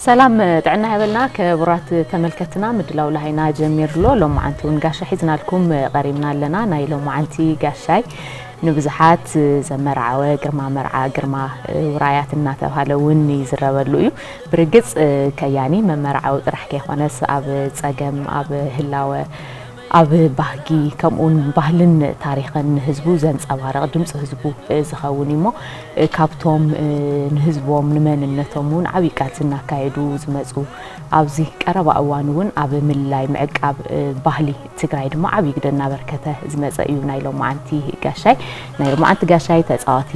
ሰላም ጥዕና ይሃበልና ክቡራት ተመልከትና ምድላው ላሃይና ጀሚሩ ኣሎ ሎማዓንቲ እውን ጋሻ ሒዝናልኩም ቀሪብና ኣለና ናይ ሎማዓንቲ ጋሻይ ንብዙሓት ዘመርዓወ ግርማ መርዓ ግርማ ውራያት እናተባሃለ እውን ይዝረበሉ እዩ ብርግፅ ከያኒ መመርዓዊ ጥራሕ ከይኮነስ ኣብ ፀገም ኣብ ህላወ ኣብ ባህጊ ከምኡውን ባህልን ታሪኽን ንህዝቡ ዘንጸባርቕ ድምጺ ህዝቡ ዝኸውን እዩሞ ካብቶም ንህዝቦም ንመንነቶም እውን ዓብይ ቃልሲ እናካየዱ ዝመፁ ኣብዚ ቀረባ እዋን እውን ኣብ ምልላይ ምዕቃብ ባህሊ ትግራይ ድማ ዓብይ ግደ እናበርከተ ዝመፀ እዩ ናይ ሎማዓንቲ ጋሻይ ናይ ሎማዓንቲ ጋሻይ ተፃዋቲ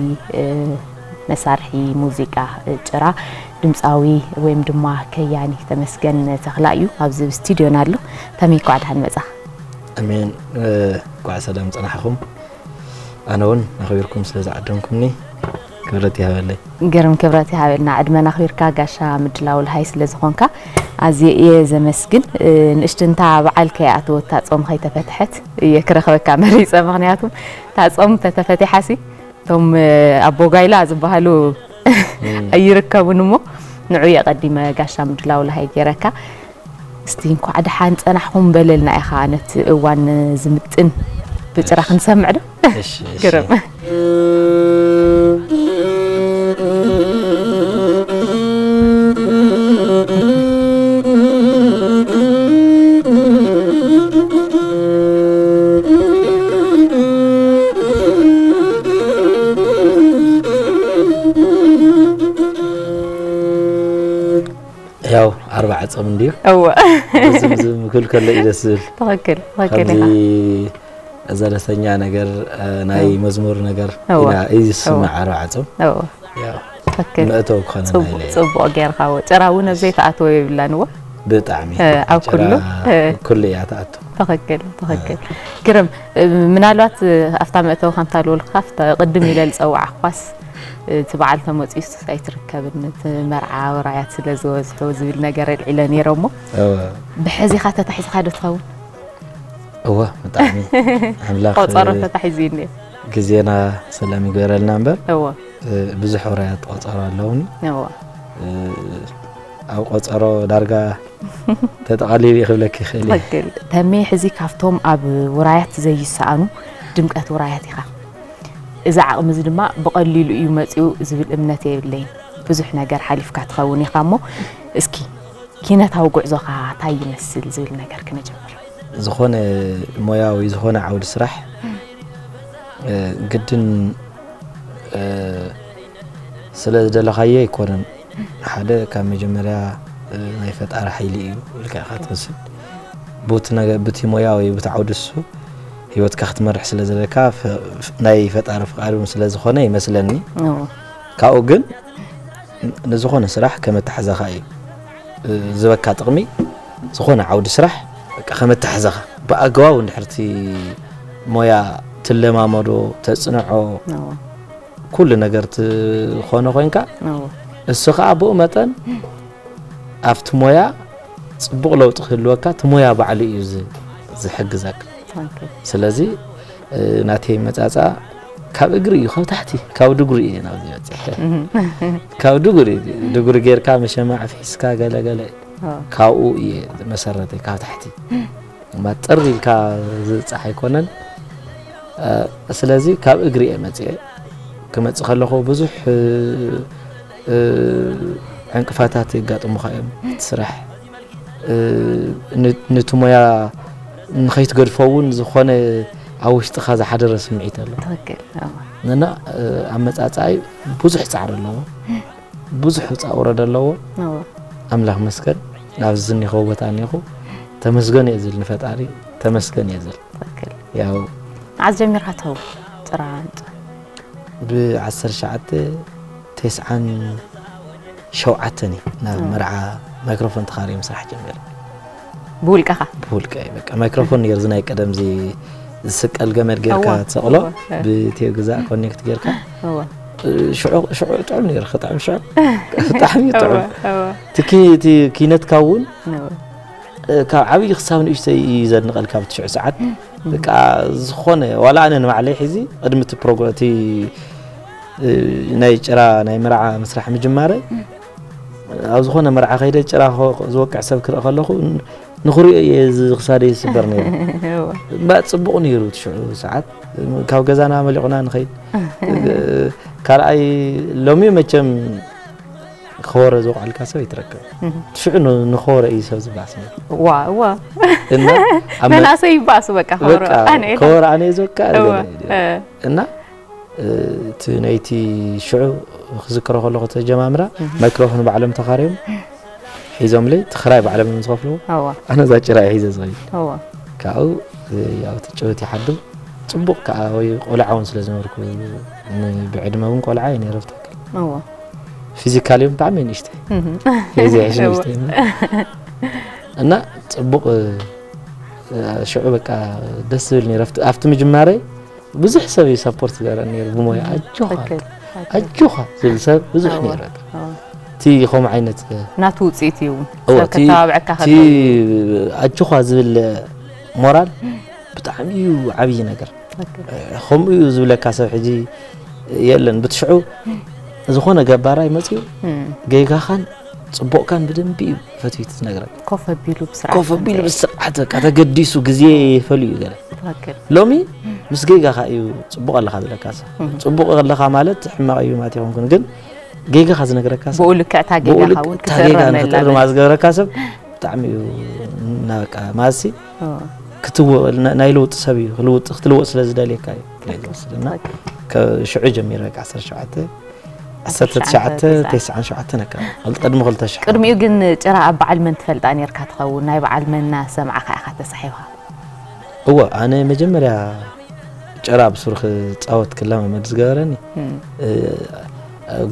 መሳርሒ ሙዚቃ ጭራ ድምጻዊ ወይም ድማ ከያኒ ተመስገን ተኽላ እዩ ኣብዚ ኣብ ስቱድዮና ኣሎ ተሜ ኳዕ ድሓን መጻኻ ኣሜን ኳዕ ሰላም ጸናሕኹም ኣነ እውን ኣኽቢርኩም ስለ ዝዓደምኩምኒ ክብረት ይሃበለይ ግርም ክብረት ይሃበልና ዕድመና ኣኽቢርካ ጋሻ ምድላው ልሃይ ስለ ዝኾንካ ኣዝየ እየ ዘመስግን ንእሽትንታ በዓል ከይኣተወት ታጾም ከይተፈትሐት እየ ክረኽበካ መሪፀ ምክንያቱ ታጾም ተተፈቲሓሲ እቶም ኣቦ ጓይላ ዝበሃሉ ኣይርከቡን እሞ ንዑ የቀዲመ ጋሻ ምድላው ለሃይ ገይረካ እስቲ እንኳዕ ደሓን ፀናሕኹም በለልና ኢኻ ነቲ እዋን ዝምጥን ብጭራ ክንሰምዕ ዶ ግርም ያው ዓርቢ ዓፀም እንድዩ እወ ዝምዝም ክብል ከሎ እዩ ደስ ዝብል ትኽክል ትኽክል ከምዚ ኢኻ ዘለሰኛ ነገር ናይ መዝሙር ነገር እወ፣ ኢና እዩ ዝስማዕ ዓርቢ ዓፀም እወ ያው ትክክል መእተዊ ክኾነና ጽቡቅ ኢለ እየ። ጽቡቅ ጌርካ እዎ ጭራ እውን ኣብ ዘይተኣትዎ የብላን እዎ ብጣዕሚ እ፣ ኣብ ጭራ ኩሉ፣ እ። ኩሉ እያ ትኣቱ ትክክል ትክክል ግርም እ፣ ምናልባት እ፣ ኣብታ መእተዊ ከምታ ልበልካ ኣብታ ቅድም ኢለ ዝፀዋዕኳስ እ፣ እቲ በዓል ተመፅኡስ ኣይትርከብን እቲ መርዓ ወራያት ስለ ዝበዝሑ ዝብል ነገር ኣልዒለ ነይረ እሞ እወ ብሕዚኻ ተታሒዝካ ዶ ትኸውን እወ ብጣዕሚ ኣምላኽ ቆፀሮ እ፣ ተታሒዙ እዩ እኒኦ ግዜና ሰላም ይግበረልና እምበር እዎ ብዙሕ ውራያት ቆፀሮ ኣለውኒ ኣብ ቆፀሮ ዳርጋ ተጠቓሊሉ እዩ ክብለክ ይኽእል ተሜ ሕዚ ካብቶም ኣብ ውራያት ዘይሰኣኑ ድምቀት ውራያት ኢኻ እዚ ዓቕሚ እዚ ድማ ብቐሊሉ እዩ መፅኡ ዝብል እምነት የብለይን ብዙሕ ነገር ሓሊፍካ ትኸውን ኢኻ እሞ እስኪ ኪነታዊ ጉዕዞኻ እንታይ ይመስል ዝብል ነገር ክነጀምር ዝኾነ ሞያዊ ዝኾነ ዓውዲ ስራሕ ግድን ስለ ዝደለኻዮ ኣይኮነን ሓደ ካብ መጀመርያ ናይ ፈጣሪ ሓይሊ እዩ ኢልካ ኢኻ ትመስል ቡቲ ነገ ብቲ ሞያ ወይ ብቲ ዓውዲ እሱ ህይወትካ ክትመርሕ ስለ ዘለካ ናይ ፈጣሪ ፍቃድ እውን ስለ ዝኾነ ይመስለኒ ካብኡ ግን ንዝኾነ ስራሕ ከመታሕዛኻ እዩ ዝህበካ ጥቕሚ ዝኾነ ዓውዲ ስራሕ ከም ኣተሓሕዛኻ ብኣገባቡ እንድሕር እቲ ሞያ ትለማመዶ፣ ተፅንዖ፣ ኩሉ ነገር ትኾኖ ኮይንካ እሱ ከዓ ብኡ መጠን ኣብቲ ሞያ ፅቡቕ ለውጢ ክህልወካ እቲ ሞያ ባዕሉ እዩ ዝሕግዘካ ስለዚ ናተይ መጻጻ ካብ እግሪ እዩ ካብ ታሕቲ ካብ ድጉሪ እየ ናብዚ በፂሐ ካብ ድጉሪ ድጉሪ ጌርካ መሸማዕ ፍሒስካ ገለገለ ካብኡ እየ መሰረተይ ካብ ታሕቲ እማ ጥር ኢልካ ዝብፃሕ ኣይኮነን ስለዚ ካብ እግሪ እየ መፅአ ክመፅእ ከለኹ ብዙሕ ዕንቅፋታት የጋጥሙኻ እዮም ስራሕ ነቲ ሞያ ንኸይትገድፎ እውን ዝኾነ ኣብ ውሽጥኻ ዝሓደረ ስምዒት ኣሎ እና ኣመፃፅኣይ ብዙሕ ፃዕሪ ኣለዎ ብዙሕ ውፃ ውረድ ኣለዎ ኣምላኽ መስገን ናብዚ ዝኒኸው ቦታ እኒኹ ተመስገን እየ ዝብል ንፈጣሪ ተመስገን እየ ዝብል ያው መዓዝ ጀሚርካ ተው ጭራ ብ19 ቴስዓን ሸውዓተ እኔ ናብ መርዓ ማይክሮፎን ተኻርየ ምስራሕ ጀሚረ ብውልቀኻ ብውልቀ በቃ ማይክሮፎን ነይሩ እዚ ናይ ቀደም እዚ ዝስቀል ገመድ ጌርካ ትሰቕሎ ብቴዮ ግዛእ ኮኔክት ጌርካ ሽዑ ጥዑም ነይሩ ክጥዕም ሽዑ ብጣዕሚ ጥዑም እቲ ኪነትካ እውን ካብ ዓብዪ ክሳብ ንእሽተይ እዩ ዘድንቐልካ ኣብ ትሽዑ ሰዓት በቃ ዝኾነ ዋላ ኣነ ንባዕለይ ሕዚ ቅድሚ እቲ ፕሮግራም እቲ ናይ ጭራ ናይ መርዓ ምስራሕ ምጅማረ ኣብ ዝኾነ መርዓ ከይደ ጭራ ዝወቅዕ ሰብ ክርኢ ከለኹ ንኽሪኦ እየ ክሳደ ይስበር ነይሩ እምበር ፅቡቕ ነይሩ ትሽዑ ሰዓት ካብ ገዛና መሊቑና ንኸይድ ካልኣይ ሎሚ መቸም ከወረ ዝወቕዐልካ ሰብ ይትረከብ ትሽዑ ንኸወረ እዩ ሰብ ዝባስ ዋዋ መናእሰይ ይባእሱ በቃ ከወረ ኣነ እዩ ዝወቅዕ እና እቲ ናይቲ ሽዑ ክዝክሮ ከለኹ እቲ ኣጀማምራ ማይክሮፎን ባዕሎም ተኻርዮም ሒዞምለይ እቲ ክራይ ባዕሎም እዮም ዝኸፍልዎ ኣነ እዛ ጭራ እየ ሒዘ ዝኸይድ ካብኡ ያው እቲ ጭውት ይሓድር ፅቡቕ ከዓ ወይ ቆልዓ እውን ስለ ዝነበርኩ ብዕድመ እውን ቆልዓ እየ ነይረ ብትክክል ፊዚካሊ እውን ብጣዕሚ ንእሽተይ ዘይሕሽ ንእሽተይ እና ፅቡቕ ሽዑ በቃ ደስ ዝብል ነይረ ኣብቲ ምጅማረይ ብዙሕ ሰብ እዩ ሰፖርት ዝገረን ነይሩ ብሞያ ኣጆኻ ኣጆኻ ዝብል ሰብ ብዙሕ ነይሩ እቲ ከምኡ ዓይነት ናቱ ውፅኢት እዩ ሰብ ከተባብዐካ ከሎ ኣጆኻ ዝብል ሞራል ብጣዕሚ እዩ ዓብዪ ነገር ከምኡ እዩ ዝብለካ ሰብ ሕጂ የለን ብትሽዑ ዝኾነ ገባራይ መፅኡ ጌጋኻን ጽቡቕካን ብደንቢ እዩ ፈትዩ ትነግረን ኮፍ ኣቢሉ ብስርዓት ኮፍ ኣቢሉ ብስርዓት በቃ ተገዲሱ ግዜ ይፈልዩ እዩ ገለ ሎሚ ምስ ጌጋኻ እዩ ጽቡቕ ኣለኻ ዝለካ ጽቡቕ ኣለኻ ማለት ሕማቕ እዩ ማለት ይኾንኩን ግን ጌጋኻ ዝነግረካ ሰብ ብኡ ልክዕ እታ ጌጋኻ እውን ክትእረመላ ዝገበረካ ሰብ ብጣዕሚ እዩ እና በቃ ማለትሲ ናይ ለውጢ ሰብ እዩ ክትልወጥ ስለ ዝደልየካ እዩ ሽዑ ጀሚረ 17 ዓሰርተ ትሽዓተ ተስዓን ሸውዓተን ኣከባቢ ክል- ቅድሚ ክልተ ሽሕ ቅድሚኡ ግን ጭራ ኣብ በዓል መን ትፈልጣ ኔርካ ትኸውን ናይ በዓል መን እናሰማዕካ ኢኻ ተሳሒብካ እወ ኣነ መጀመርያ ጭራ ኣብ ሱር ክፃወት ክለማመድ ዝገበረኒ እ፣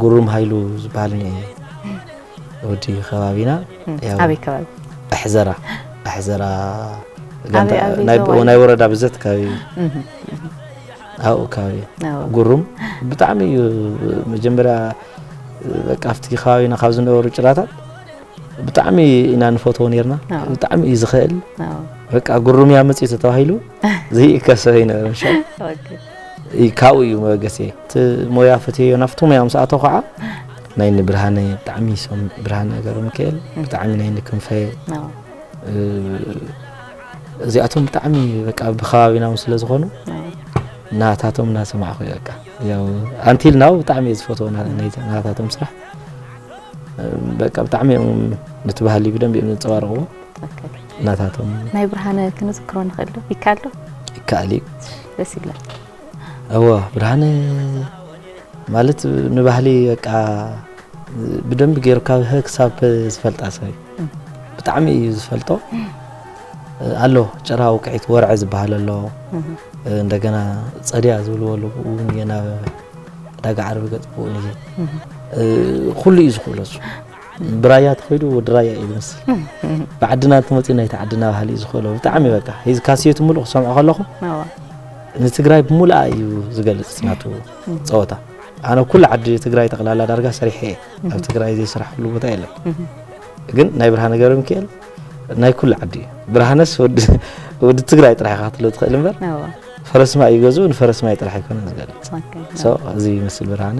ጉሩም ሃይሉ ዝበሃል እኒ ወዲ ከባቢና ያው ኣበይ ከባቢ ኣሕዘራ ኣሕዘራ ኣበይ- ኣበይ ናይ ዞባ እዩ? ናይ ወረዳ ብዘት ከባቢ ኣብኡ ከባቢ ጉሩም ብጣዕሚ እዩ መጀመርያ በቃ ኣብቲ ከባቢና ካብ ዝነበሩ ጭራታት ብጣዕሚ ኢና ንፈትዎ ነርና ብጣዕሚ እዩ ዝኽእል በቃ ጉሩም እያ መፅኡ ተተባሂሉ ዘይእከብ ሰብ ኣይነበረ ሻ ካብኡ እዩ መበገሲ እቲ ሞያ ፈትዮ ናብቲ ሞያ ምስ ኣተው ከዓ ናይ ንብርሃነ ብጣዕሚ ሶም ብርሃነ ገረ ሚካኤል ብጣዕሚ ናይ ንክንፈ እዚኣቶም ብጣዕሚ በቃ ብከባቢና ውን ስለ ዝኾኑ ናታቶም እናሰማዕኹ እየ በቃ ያው ኣንቲል ናው ብጣዕሚ እየ ዝፈትዎ ናታቶም ስራሕ በቃ ብጣዕሚ እዮም ነቲ ባህሊ ብደንብ እዮም ዘንፀባርቕዎ ናታቶም ናይ ብርሃነ ክንዝክሮ ንኽእል ዶ ይከኣል ዶ ይከኣል እዩ ደስ ይብለካ እወ ብርሃነ ማለት ንባህሊ በቃ ብደንብ ገይሩ ካብ ሀ ክሳብ ዝፈልጣ ሰብ እዩ። ብጣዕሚ እዩ ዝፈልጦ ኣሎ ጭራ ውቅዒት ወርዐ ዝበሃል ኣሎ እንደገና ጸድያ ዝብልዎ ኣለዎ እውን እየ ናብ ዕዳጋ ዓርቢ ገጽ ብኡ እየ ኩሉ እዩ ዝኽእሎ እሱ ብራያ ተኸይዱ ወዲ ራያ እዩ ዝመስል ብዓድና እንተመፅኡ ናይቲ ዓድና ባህሊ እዩ ዝኽእሎ ብጣዕሚ በቃ ሂዚ ካሴቱ ምሉእ ክሰምዖ ከለኹ ንትግራይ ብምሉኣ እዩ ዝገልፅ ናቱ ፀወታ ኣነ ኩሉ ዓዲ ትግራይ ጠቕላላ ዳርጋ ሰሪሐ እየ ኣብ ትግራይ ዘይስራሕሉ ቦታ የለን ግን ናይ ብርሃነ ገብረ ሚካኤል ናይ ኩሉ ዓዲ እዩ ብርሃነስ ወዲ ትግራይ ጥራሕ ኢኻ ክትብሎ ትኽእል እምበር ፈረስማ እዩ ገዝኡ ንፈረስማ ጥራሕ ኣይኮነን ዝገልፅ እዚ ይመስል ብርሃነ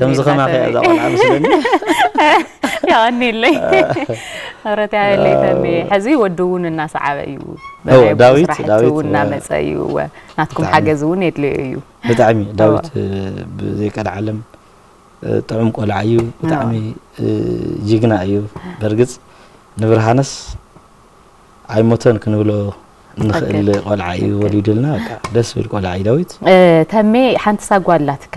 ከምዚ ከማኺ እያ እዛ ቆልዓ ምስለኒ የቐኒለይ ምረት ያበለይ ተምየ ሕዚ ወዲ እውን እናሰዓበ እዩ ዳዊት ዳዊት እናመፀ እዩ ናትኩም ሓገዝ እውን የድልዮ እዩ ብጣዕሚ ዳዊት ብዘይቀልዓለም ጥዑም ቆልዓ እዩ ብጣዕሚ ጅግና እዩ በርግፅ ንብርሃንስ ኣይሞተን ክንብሎ ንኽእል ቆልዓ እዩ ወሊዱልና ደስ ዝብል ቆልዓ እዩ ዳዊት ተሜ ሓንቲ ሳጓ ኣላትካ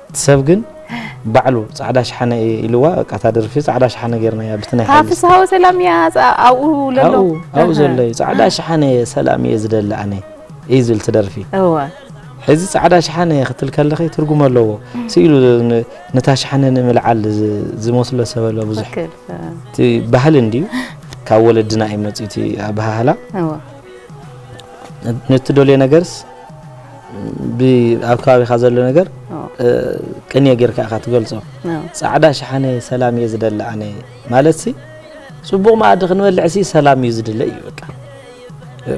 እቲ ሰብ ግን ባዕሉ ጻዕዳ ሽሓነ እየ ኢልዋ በቃ እታ ደርፊ ጻዕዳ ሽሓነ ጌርናያ ብቲ ናይ ሓይሊ ፍስሃ ወሰላም እያ ኣብኡ ለሎ ኣብኡ ዘሎ እዩ ጻዕዳ ሽሓነ እየ ሰላም እየ ዝደሊ ኣነ እዩ ዝብል እቲ ደርፊ ሕዚ ጻዕዳ ሽሓነ እየ ክትል ከለኺ ትርጉም ኣለዎ ስኢሉ ነታ ሽሓነ ንምልዓል ዝመስሎ ሰብ ኣሎ ብዙሕ እቲ ባህሊ እንድዩ ካብ ወለድና እዩ መፅኡ እቲ ኣበሃህላ ነቲ ደልዮ ነገርስ ኣብ ከባቢኻ ዘሎ ነገር ቅንየ ጌርካ ኢኻ ትገልጾ። ጻዕዳ ሸሓነ ሰላም እየ ዝደሊ ኣነ ማለትሲ ጽቡቕ መኣዲ ክንበልዕሲ ሰላም እዩ ዝድለ እዩ በቃ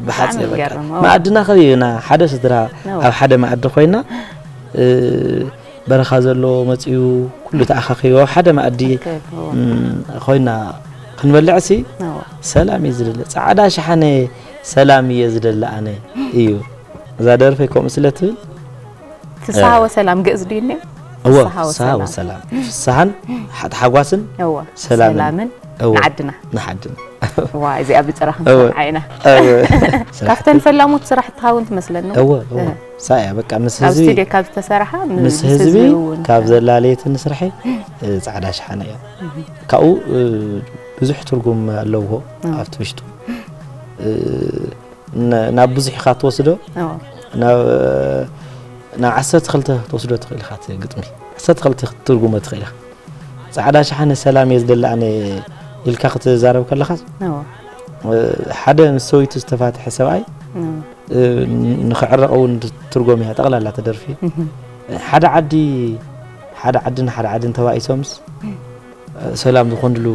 ብሓጺር በቃ መኣድና ከይና ሓደ ስድራ ኣብ ሓደ መኣዲ ኮይና በረኻ ዘሎ መጽኡ ኩሉ ተኣኻኺቦ ሓደ መኣዲ ኮይና ክንበልዕሲ ሰላም እዩ ዝድለ ጻዕዳ ሸሓነ ሰላም እየ ዝደሊ ኣነ እዩ እዛ ደርፈይ ከምኡ ስለ ትብል ፍስሃ ወሰላም ግእዝ ድዩ እኒኦ እወ ፍስሃ ወሰላም ፍስሃን ሓጓስን ሰላምን ንዓድና ንዓድና ዋ እዚኣ ብጭራ ክንሰምዓ ኢና ካብተን ፈላሞት ስራሕትኻ እውን ትመስለኒ እወ ሳያ እያ በቃ ምስ ህዝቢ ስቱድዮ ካብ ዝተሰርሓ ምስ ህዝቢ ካብ ዘላለየት ንስርሐ ፃዕዳ ሸሓነ እያ ካብኡ ብዙሕ ትርጉም ኣለዎ ኣብቲ ውሽጡ ናብ ብዙሕ ኢኻ ትወስዶ ናብ ናብ ዓሰርተ ክልተ ትወስዶ ትኽእል ኢኻ ግጥሚ ዓሰርተ ክልተ ክትትርጉሞ ትኽእል ኢኻ ፃዕዳ ሸሓነ ሰላም እየ ዝደሊ ኣነ ኢልካ ክትዛረብ ከለኻ ሓደ ምስ ሰበይቱ ዝተፋትሐ ሰብኣይ ንክዕረቕ እውን ትርጎም እያ ጠቕላላ ተደርፊ ሓደ ዓዲ ሓደ ዓድን ሓደ ዓድን ተባኢሶምስ ሰላም ዝኾንሉ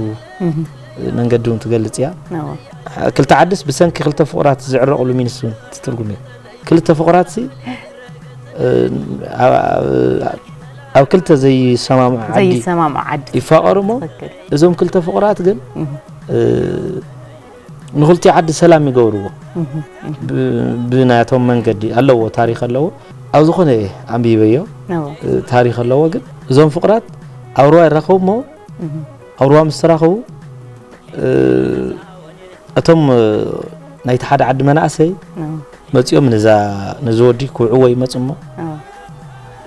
መንገዲ እውን ትገልጽ እያ ክልተ ዓድስ ብሰንኪ ክልተ ፍቕራት ዝዕረቕሉ ሚንስ እውን ትትርጉም እዩ ክልተ ፍቕራት ሲ ኣብ ክልተ ዘይሰማምዑ ዓዲ ይፋቐሩ እሞ እዞም ክልተ ፍቕራት ግን ንክልቲኡ ዓዲ ሰላም ይገብርዎ ብናቶም መንገዲ ኣለዎ ታሪክ ኣለዎ ኣብ ዝኮነ እየ ኣንቢበዮ ታሪክ ኣለዎ ግን እዞም ፍቅራት ኣብ ሩባ ይራከቡ እሞ ኣብ ሩባ ምስ ተራከቡ እቶም ናይቲ ሓደ ዓዲ መናእሰይ መፂኦም ነዛ ነዚ ወዲ ክውዕዎ ይመፁ እሞ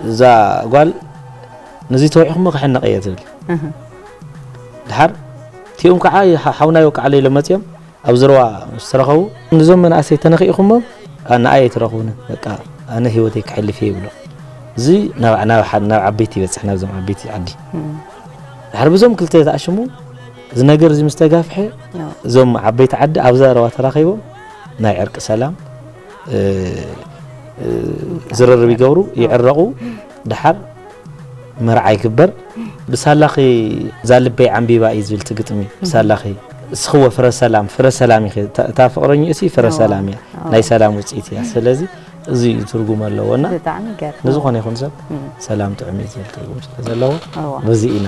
እዛ ጓል ነዚ ተወዒኹሞ ክሕነቀ እየ ትብል ድሓር እቲኦም ከኣ ሓውና ይወቅዓለይ ኢሎም መጺኦም ኣብ ዝረዋ ምስ ተረኸቡ ንዞም መናእሰይ ተነኺእኹሞም ንኣይ ኣይትረኽቡንን በቃ ኣነ ህይወተይ ከሕልፍ እየ ይብሎም። እዚ ናብ ዓበይቲ ይበጽሕ ናብዞም ዓበይቲ ዓዲ ድሕሪ ብዞም ክልተ ተኣሽሙ እዚ ነገር እዚ ምስ ተጋፍሐ እዞም ዓበይቲ ዓዲ ኣብ ዘረባ ተራኺቦም ናይ ዕርቂ ሰላም ዝርርብ ይገብሩ ይዕረቑ። ደሓር መርዓ ይግበር ብሳላኺ ዛልበይ ዓምቢባ እዩ ዝብል ትግጥሚ ብሳላኺ እስኽወ ፍረ ሰላም ፍረ ሰላም ኢኺ እታ ፍቅረኝ እሲ ፍረ ሰላም እያ ናይ ሰላም ውፅኢት እያ ስለዚ እዚ እዩ ትርጉም ኣለዎ እና ንዝኾነ ይኹን ሰብ ሰላም ጥዑም እዩ ዝብል ትርጉም ስለ ዘለዎ በዚ ኢና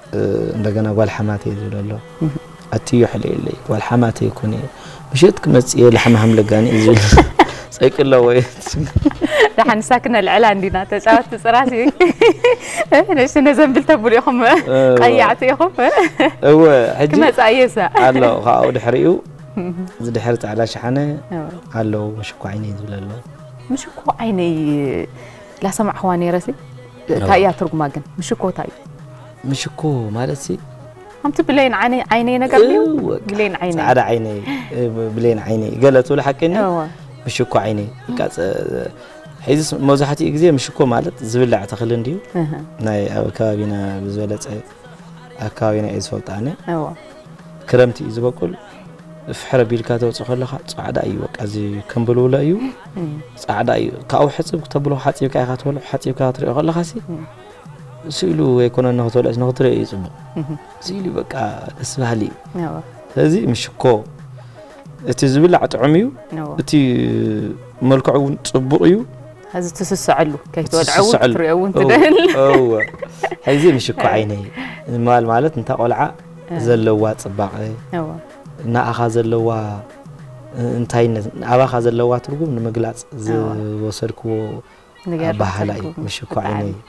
እንደገና ጓል ሓማተይ ዝብል ኣሎ ኣትዮ ሕለየለይ ጓል ሓማተይ ኩኒ ምሸት ክመፅየ ላሕሚ ሃምለጋኒ እዩ ዝብል ፀይቂ ኣለዎ ደሓን ንሳ ክነልዕላ እንዲና ተፃወትቲ ፅራስ እዩ ንእሽቲ ነዘንብል ተብሉ ኢኹም ቀያዕቲ ኢኹም እወ ሕጂ ክመፃ እየሳ ኣሎ ካብኡ ድሕሪኡ እዚ ድሕሪ ፃዕዳ ሸሓነ ኣለዉ ምሽኮ ዓይነይ ዝብል ኣሎ ምሽኮ ዓይነይ ላሰማዕኽዋ ነይረሲ ታይ እያ ትርጉማ ግን ምሽኮ ታይ እዩ? ምሽኮ ማለት ሲ ኣንቲ ብሌን ዓይነይ ዓይነይ ነገር ድዩ ብሌን ዓይነይ ጻዕዳ ዓይነይ ብሌን ዓይነይ ገለ ትብሉ ሓቂ ኒ ምሽኮ ዓይነይ ሒዚ መብዛሕትኡ ግዜ ምሽኮ ማለት ዝብላዕ ተኽሊ እንድዩ ናይ ኣብ ከባቢና ብዝበለጸ ኣብ ከባቢና እየ ዝፈልጦ ኣነ ክረምቲ እዩ ዝበቁል ፍሕረ ቢልካ ተውፅእ ከለካ ፃዕዳ እዩ በቃ እዚ ከምብልውለ እዩ ፃዕዳ እዩ ካብኡ ሕፅብ ክተብሎ ሓፂብካ ኢካ ትበልዑ ሓፂብካ ትሪኦ ከለካ ሲ ስኢሉ ዘይኮነ ንክትበልዕስ ንክትሪኦ እዩ ፅቡቅ ስኢሉ በቃ ደስ በሃሊ እዩ ስለዚ ምሽኮ እቲ ዝብላዕ ጥዑም እዩ እቲ መልክዑ እውን ፅቡቅ እዩ ሐዚ ትስስዐሉ ከይትወድዐ እውን ክትሪኦ እውን ትደል እወ ሐዚ ምሽኮ ዓይነይ ማል ማለት እንታ ቆልዓ ዘለዋ ፅባቐ ንኣኻ ዘለዋ እንታይነት ኣባኻ ዘለዋ ትርጉም ንምግላፅ ዝወሰድክዎ ኣባህላ እዩ ምሽኮ ዓይነይ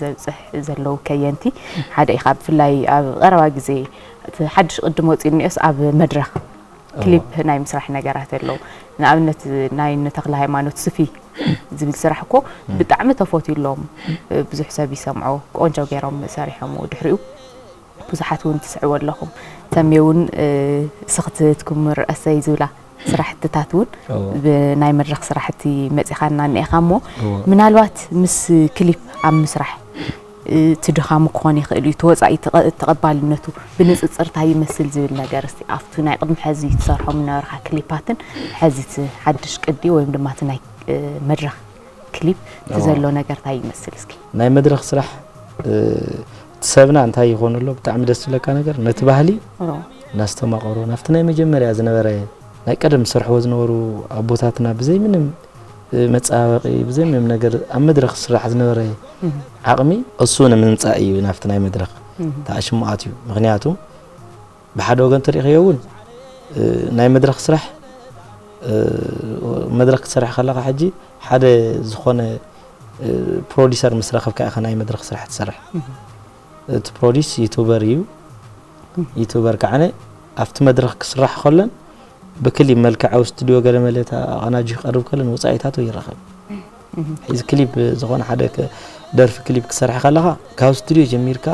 ዘብጽሕ ዘለዉ ከየንቲ ሓደ ኢኻ ብፍላይ ኣብ ቀረባ ግዜ እቲ ሓድሽ ቅድም ወጺኡ እኒኦስ ኣብ መድረኽ ክሊፕ ናይ ምስራሕ ነገራት ኣለዉ ንኣብነት ናይ ንተክለ ሃይማኖት ስፊ ዝብል ስራሕ እኮ ብጣዕሚ ተፈትዩ ኣሎም ብዙሕ ሰብ ይሰምዖ ቆንጆ ገይሮም ሰሪሖምዎ ድሕሪኡ ብዙሓት እውን ትስዕቡ ኣለኹም ተሜ እውን ስኽትት ኩምር ኣሰይ ዝብላ ስራሕትታት እውን ብናይ መድረኽ ስራሕቲ መፂኻና እኒኤኻ እሞ ምናልባት ምስ ክሊፕ ኣብ ምስራሕ እቲ ድኻሙ ክኾን ይኽእል እዩ ተወፃኢ ተቐባልነቱ ብንፅፅር እንታይ ይመስል ዝብል ነገር እስቲ ኣብቲ ናይ ቅድሚ ሕዚ ትሰርሖም ዝነበርካ ክሊፓትን ሕዚ እቲ ሓድሽ ቅዲ ወይም ድማ እቲ ናይ መድረኽ ክሊፕ እቲ ዘሎ ነገር ታይ ይመስል እስኪ ናይ መድረኽ ስራሕ ሰብና እንታይ ይኾኑ ኣሎ ብጣዕሚ ደስ ዝብለካ ነገር ነቲ ባህሊ እናስተማቐሩ ናብቲ ናይ መጀመርያ ዝነበረ ናይ ቀደም ዝሰርሕዎ ዝነበሩ ኣቦታትና ብዘይ ምንም መፀባበቂ ብዘይ ምንም ነገር ኣብ መድረኽ ዝስራሕ ዝነበረ ዓቕሚ እሱ ንምምፃእ እዩ ናብቲ ናይ መድረኽ ተኣሽሙ ኣትዩ ምክንያቱ ብሓደ ወገን ተሪእክዮ እውን ናይ መድረኽ ስራሕ መድረኽ ክትሰርሕ ከለኻ ሕጂ ሓደ ዝኾነ ፕሮዲሰር ምስ ረኸብካ ኢኻ ናይ መድረኽ ስራሕ ትሰርሕ እቲ ፕሮዲስ ዩቱበር እዩ ዩቱበር ከዓነ ኣብቲ መድረኽ ክስራሕ ከሎን ብክሊ መልክዓዊ ስቱድዮ ገለመለ ኣቐናጁ ክቐርብ ከሎን ወፃኢታቱ ይረኸብ ሕዚ ክሊፕ ዝኾነ ሓደ ደርፊ ክሊፕ ክሰርሐ ከለኻ ካብ ስቱድዮ ጀሚርካ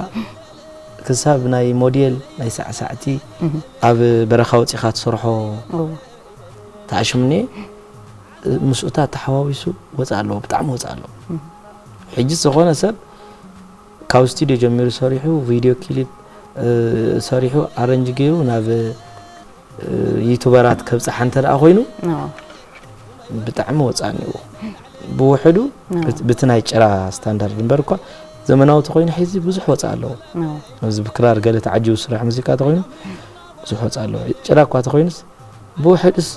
ክሳብ ናይ ሞዴል ናይ ሳዕሳዕቲ ኣብ በረኻ ወፂኻ ትሰርሖ ተኣሽምኒ ምስኡታ ተሓዋዊሱ ወፃ ኣለዎ ብጣዕሚ ወፃ ኣለዎ ሕጂ ዝኾነ ሰብ ካብ ስቱድዮ ጀሚሩ ሰሪሑ ቪድዮ ክሊፕ ሰሪሑ ኣረንጅ ገይሩ ናብ ዩቱበራት ከብጽሓ እንተ ኮይኑ ብጣዕሚ ወጻኒ እዩ ብውሕዱ ብቲ ናይ ጭራ ስታንዳርድ እምበር እኳ ዘመናዊ ተኮይኑ ሕዚ ብዙሕ ወፃ ኣለዎ ኣብዚ ብክራር ገለ ተዓጅቡ ስራሕ ሙዚቃ ተኮይኑ ብዙሕ ወፃ ኣለዎ ጭራ እኳ ተኮይኑስ ብውሕዱስ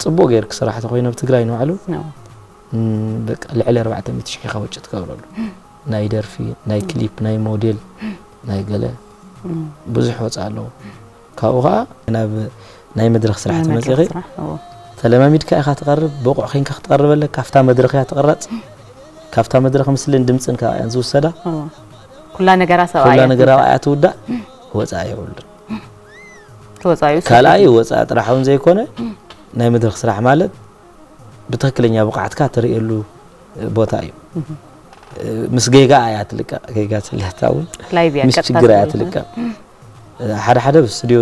ፅቡቅ ገይርክ ስራሕ ተኮይኑ ኣብ ትግራይ ንባዕሉ በቃ ልዕሊ 400 ሽሕ ኢኻ ወጪ ትገብረሉ ናይ ደርፊ ናይ ክሊፕ ናይ ሞዴል ናይ ገለ ብዙሕ ወፃ ኣለዎ ካብኡ ከኣ ናብ ናይ መድረኽ ስራሕ ተመጺኺ ተለማሚድካ ኢኻ ትቐርብ፣ ብቑዕ ኬንካ ክትቐርብ ኣለካ። ካብታ መድረኽ እያ ትቕረጽ፣ ካብታ መድረኽ ምስልን ድምጽን ከኣ እየን ዝውሰዳ። ኩላ ነገራ ሰብኣያ እያ ትውዳእ፣ ወጻኢ የብሉን። ካልኣይ ወጻኢ ጥራሕ እውን ዘይኮነ ናይ መድረኽ ስራሕ ማለት ብትክክለኛ ብቕዓትካ ትርእየሉ ቦታ እዩ። ምስ ጌጋ እያ ትልቀቕ፣ ጌጋ ስለታ እውን ምስ ችግር እያ ትልቀቕ። ሓደ ሓደ ኣብ ስቱድዮ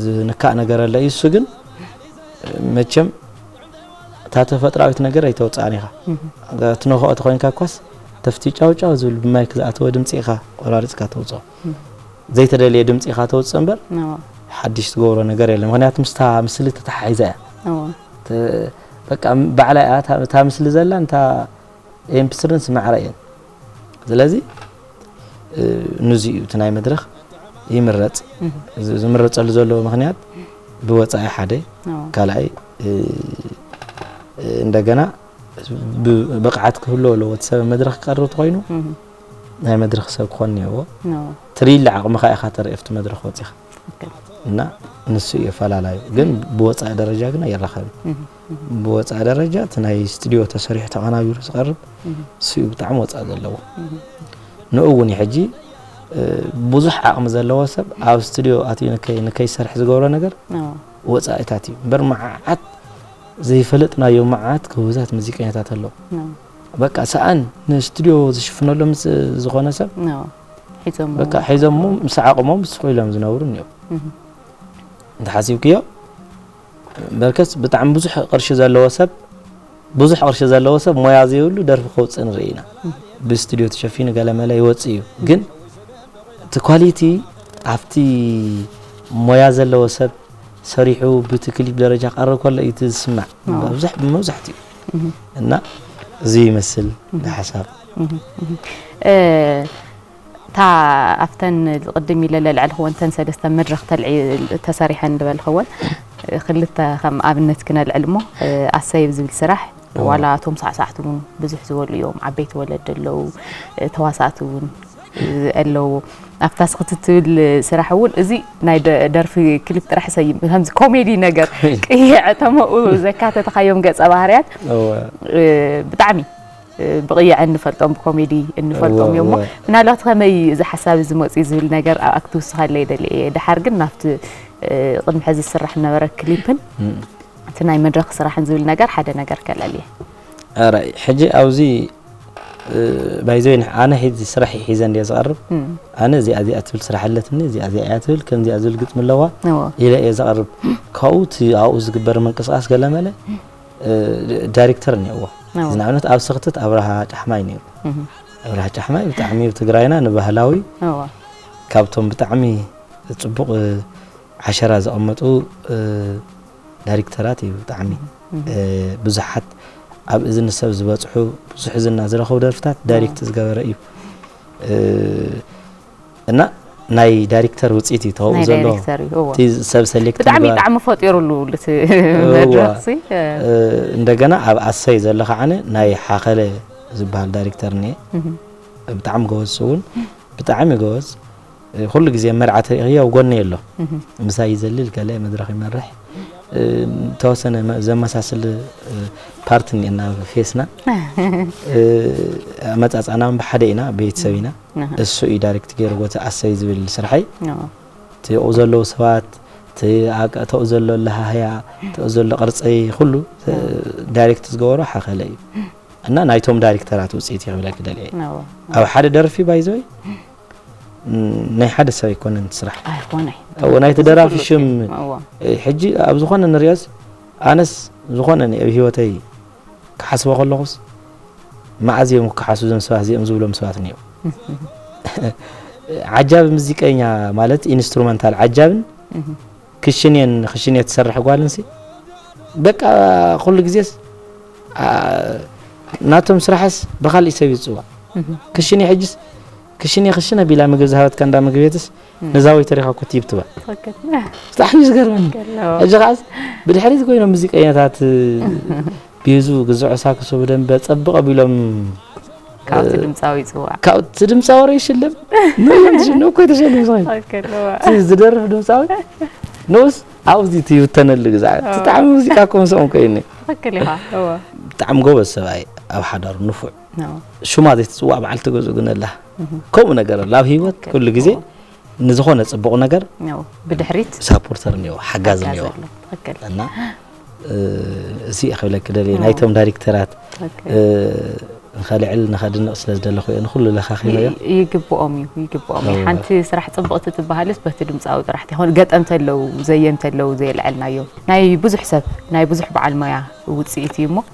ዝንካእ ነገር ኣለ እዩ እሱ ግን መቸም እታ ተፈጥራዊት ነገር ኣይተወፅኣን ኢኻ ትነክኦ ተኮይንካ ኳስ ተፍቲ ጫውጫው ዝብል ብማይክ ዝኣተወ ድምፂ ኢኻ ቆራሪፅካ ተውፅኦ ዘይተደልየ ድምፂ ኢኻ ተውፅእ እምበር ሓድሽ ትገብሮ ነገር የለ ምክንያቱ ምስታ ምስሊ ተተሓሒዛ እያ በቃ ባዕላ እያ እታ ምስሊ ዘላ እታ ኤምፕስርን ስማዕራ እየን ስለዚ ንዚ እዩ እቲ ናይ መድረኽ ይምረፅ ዝምረፀሉ ዘለዎ ምክንያት ብወፃኢ ሓደ ካልኣይ እንደገና ብቕዓት ክህልዎ ኣለዎ እቲ ሰብ መድረኽ ክቀርብ ተኮይኑ ናይ መድረኽ ሰብ ክኾን እኒሀዎ ትርኢለ ዓቕምኻ ኢኻ ተርኢ ኣብቲ መድረኽ ወፂኻ እና ንሱ እዩ ኣፈላላዩ ግን ብወፃኢ ደረጃ ግን ኣይራኸብን ብወፃኢ ደረጃ እቲ ናይ ስቱድዮ ተሰሪሑ ተቐናቢሩ ዝቐርብ ስኡ ብጣዕሚ ወፃኢ ዘለዎ ንኡ እውን ሕጂ ብዙሕ ዓቕሚ ዘለዎ ሰብ ኣብ ስቱድዮ ኣትዩ ንከይሰርሕ ዝገብሮ ነገር ወፃኢታት እዩ እምበር መዓዓት ዘይፈለጥናዮ መዓት ክውዛት ሙዚቀኛታት ኣለዉ በቃ ሰኣን ንስቱድዮ ዝሽፍነሎም ዝኾነ ሰብ በቃ ሒዞሞ ምስ ዓቕሞም ስቑ ኢሎም ዝነብሩ እኒኦም እንተሓሲብክዮ በርከስ ብጣዕሚ ብዙሕ ቅርሺ ዘለዎ ሰብ ብዙሕ ቅርሺ ዘለዎ ሰብ ሞያ ዘይብሉ ደርፊ ከውፅእ ንርኢ ኢና ብስትድዮ ተሸፊኑ ገለመለ ይወፅእ እዩ ግን እቲ ኳሊቲ ኣብቲ ሞያ ዘለዎ ሰብ ሰሪሑ ብቲ ክሊፕ ደረጃ ቀርብ ከሎ እዩ ዝስማዕ ብዙሕ መብዛሕትኡ እና እዚ ይመስል ሓሳብ እታ ኣብተን ቅድም ኢለ ለልዐልክወን ተን ሰለስተ መድረኽ ተልዒ ተሰሪሐን ልበልክወን ክልተ ከም ኣብነት ክነልዕል እሞ ኣሰይ ብ ዝብል ስራሕ ዋላ እቶም ሳዕሳዕቲ እውን ብዙሕ ዝበሉ እዮም ዓበይቲ ወለዲ ኣለው ተዋሳእቲ እውን ኣለዎ ኣብታ ስክቲ ትብል ስራሕ እውን እዚ ናይ ደርፊ ክሊፕ ጥራሕ ሰይም ከምዚ ኮሜዲ ነገር ቅይዐ ተመኡ ዘካተትካዮም ገፀ ባህርያት ብጣዕሚ ብቕያዕ እንፈልጦም ብኮሜዲ እንፈልጦም እዮም እሞ ምናልባት ከመይ እዩ እዚ ሓሳብ እዚ መፅኡ ዝብል ነገር ኣብኣ ክትውስኸለይ ደልየ እየ ድሓር ግን ናብቲ ቅድሚ ሕዚ ዝስራሕ ዝነበረ ክሊፕን እቲ ናይ መድረክ ስራሕን ዝብል ነገር ሓደ ነገር ከለልየ ራይ ሕጂ ኣብዚ ባይዘ ኣነ ሕዚ ስራሕ ሒዘ እንዲየ ዝቐርብ ኣነ እዚኣ እዚኣ ትብል ስራሕ ኣለትኒ እዚኣ እዚኣ እያ ትብል ከምዚኣ ዝብል ግጥሚ ኣለዋ ኢለ እየ ዘቐርብ ካብኡ እቲ ኣብኡ ዝግበር ምንቅስቃስ ገለመለ ዳሪክተር እኒኦዎ እዚ ንኣብነት ኣብ ስክትት ኣብርሃ ጫሕማይ ነይሩ ኣብርሃ ጫሕማይ ብጣዕሚ ኣብ ትግራይና ንባህላዊ ካብቶም ብጣዕሚ ፅቡቅ ዓሸራ ዘቐመጡ ዳሪክተራት እዩ ብጣዕሚ ብዙሓት ኣብ እዝኒ ሰብ ዝበፅሑ ብዙሕ ዝና ዝረኸቡ ደርፍታት ዳይሬክት ዝገበረ እዩ እና ናይ ዳይሬክተር ውጽኢት እዩ ተውኡ ዘሎ እቲ ሰብ ሰሌክት ብጣዕሚ ጣዕሚ ፈጢሩሉ እቲ መድረኽ ሲ እንደገና ኣብ ኣሰይ ዘሎ ከዓነ ናይ ሓኸለ ዝበሃል ዳይሬክተር እኒኤ ብጣዕሚ ጎበዝ ስውን ብጣዕሚ ጎበዝ ኩሉ ግዜ መርዓት ርእኽዮ ኣብ ጎኒ ኣሎ ምሳይ ይዘልል ከለ መድረኽ ይመርሕ ተወሰነ ዘመሳስል ፓርት እኒኤና ፌስና ኣመፃፃና ብሓደ ኢና ቤተሰብ ኢና እሱ እዩ ዳሪክት ገይርዎ እቲ ኣሰይ ዝብል ስርሐይ እቲ ኣብኡ ዘለዉ ሰባት እቲ ተኡ ዘሎ ለሃህያ ተኡ ዘሎ ቅርፂ ኩሉ ዳይሬክት ዝገበሮ ሓኸለ እዩ እና ናይቶም ዳይሬክተራት ውፅኢት እዩ ክብለኪ ደልየ ኣብ ሓደ ደርፊ ባይዘይ ናይ ሓደ ሰብ ኣይኮነን ስራሕ ናይቲ ደራፊ ሽም ሕጂ ኣብ ዝኾነ ንሪኦስ ኣነስ ዝኾነ ኣብ ሂወተይ ክሓስቦ ከለኹስ መኣዝ እዮም ክከሓሱ እዞም ሰባት እዚኦም ዝብሎም ሰባት እኒኦ ዓጃቢ ሙዚቀኛ ማለት ኢንስትሩመንታል ዓጃብን ክሽኔን ክሽኔ ትሰርሕ ጓልንሲ በቃ ኩሉ ግዜስ ናቶም ስራሕስ ብካልእ ሰብ ይፅዋዕ ክሽኔ ሕጅስ ክሽኔ ክሽነ ቢላ ምግብ ዝሃበትካ እንዳ ምግብ ቤትስ ነዛ ወይ ተሪኻ ኩት ይብ ትባዕ ብጣዕሚ እዩ ዝገርመኒ ሕጂ ከዓስ ብድሕሪት ኮይኖም ሙዚቀኛታት ቤዙ ግዝዖ ሳክሶ ብደንበ ጸብቕ ኣቢሎም ካብቲ ድምፃዊ ይፅዋዕ ካብቲ ድምፃዊ ረ ይሽልም ንዮም ትሽልም እኮ ተሸልም ዝኸ ዝደርፍ ድምፃዊ ንኡስ ኣብዚ እቲ ይብተነሉ ግዛዕ ብጣዕሚ ሙዚቃ እኮ ምስኦም ኮይኒ ትኽክል ኢኻ ብጣዕሚ ጎበዝ ሰብኣይ ኣብ ሓዳሩ ንፉዕ ሽማ ዘይትፅዋዕ በዓልቲ ገዝኡ ግን ኣላ ከምኡ ነገር ኣሎ ኣብ ሂወት ኩሉ ግዜ ንዝኾነ ጽቡቕ ነገር ብድሕሪት ሳፖርተር እኒኦ ሓጋዝ እኒኦ እና እዚ ክብለኪ ደልየ ናይቶም ዳይሬክተራት ንኸልዕል ንኸድንቕ ስለ ዝደለኹ እየ ንኩሉ ለኻኺበዮ ይግብኦም እዩ ይግብኦም እዩ ሓንቲ ስራሕ ፅብቕቲ ትበሃልስ በቲ ድምፃዊ ጥራሕ ትኾን ገጠም ተለው ዘየም ተለው ዘየልዐልናዮ ናይ ብዙሕ ሰብ ናይ ብዙሕ በዓል ሞያ ውፅኢት እዩ እሞ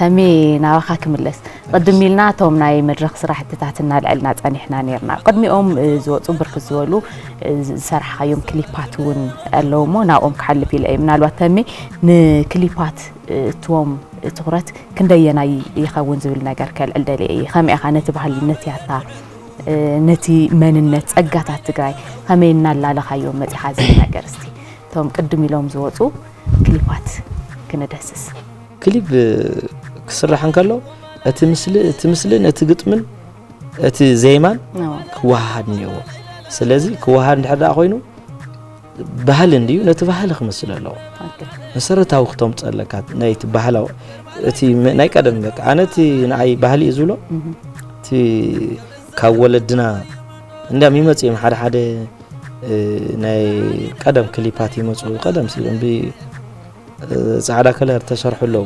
ተሜ ናባኻ ክምለስ ቕድም ኢልና እቶም ናይ መድረኽ ስራሕትታት እናልዐልና ፀኒሕና ነይርና ቕድሚኦም ዝወፁ ብርክት ዝበሉ ዝሰራሕኻዮም ክሊፓት እውን ኣለዉ እሞ ናብኦም ክሓልፍ ኢለ እዩ ምናልባት ተሜ ንክሊፓት እትዎም ትኹረት ክንደየናይ ይኸውን ዝብል ነገር ከልዕል ደልየ እየ ከመይ ኢኻ ነቲ ባህሊ ነቲ ያታ ነቲ መንነት ጸጋታት ትግራይ ከመይ እናላለኻዮም መጺኻ ዝብል ነገር እስቲ እቶም ቅድም ኢሎም ዝወፁ ክሊፓት ክንደስስ ክሊፕ ክስራሕ እንከሎ እቲ ምስሊ እቲ ምስልን እቲ ግጥምን እቲ ዜማን ክወሃሃድ እኒኦዎ ስለዚ ክወሃሃድ እንድሕር ደኣ ኮይኑ ባህሊ እንድዩ ነቲ ባህሊ ክምስል ኣለዎ መሰረታዊ ክተምፅ ኣለካ ናይቲ ባህላዊ እቲ ናይ ቀደም በቃ ኣነ እቲ ንኣይ ባህሊ እዩ ዝብሎ እቲ ካብ ወለድና እንዲያም ይመፅ እዮም ሓደ ሓደ ናይ ቀደም ክሊፓት ይመፁ ቀደም ሲሎም ጻዕዳ ከለር ተሰርሑ ኣለዉ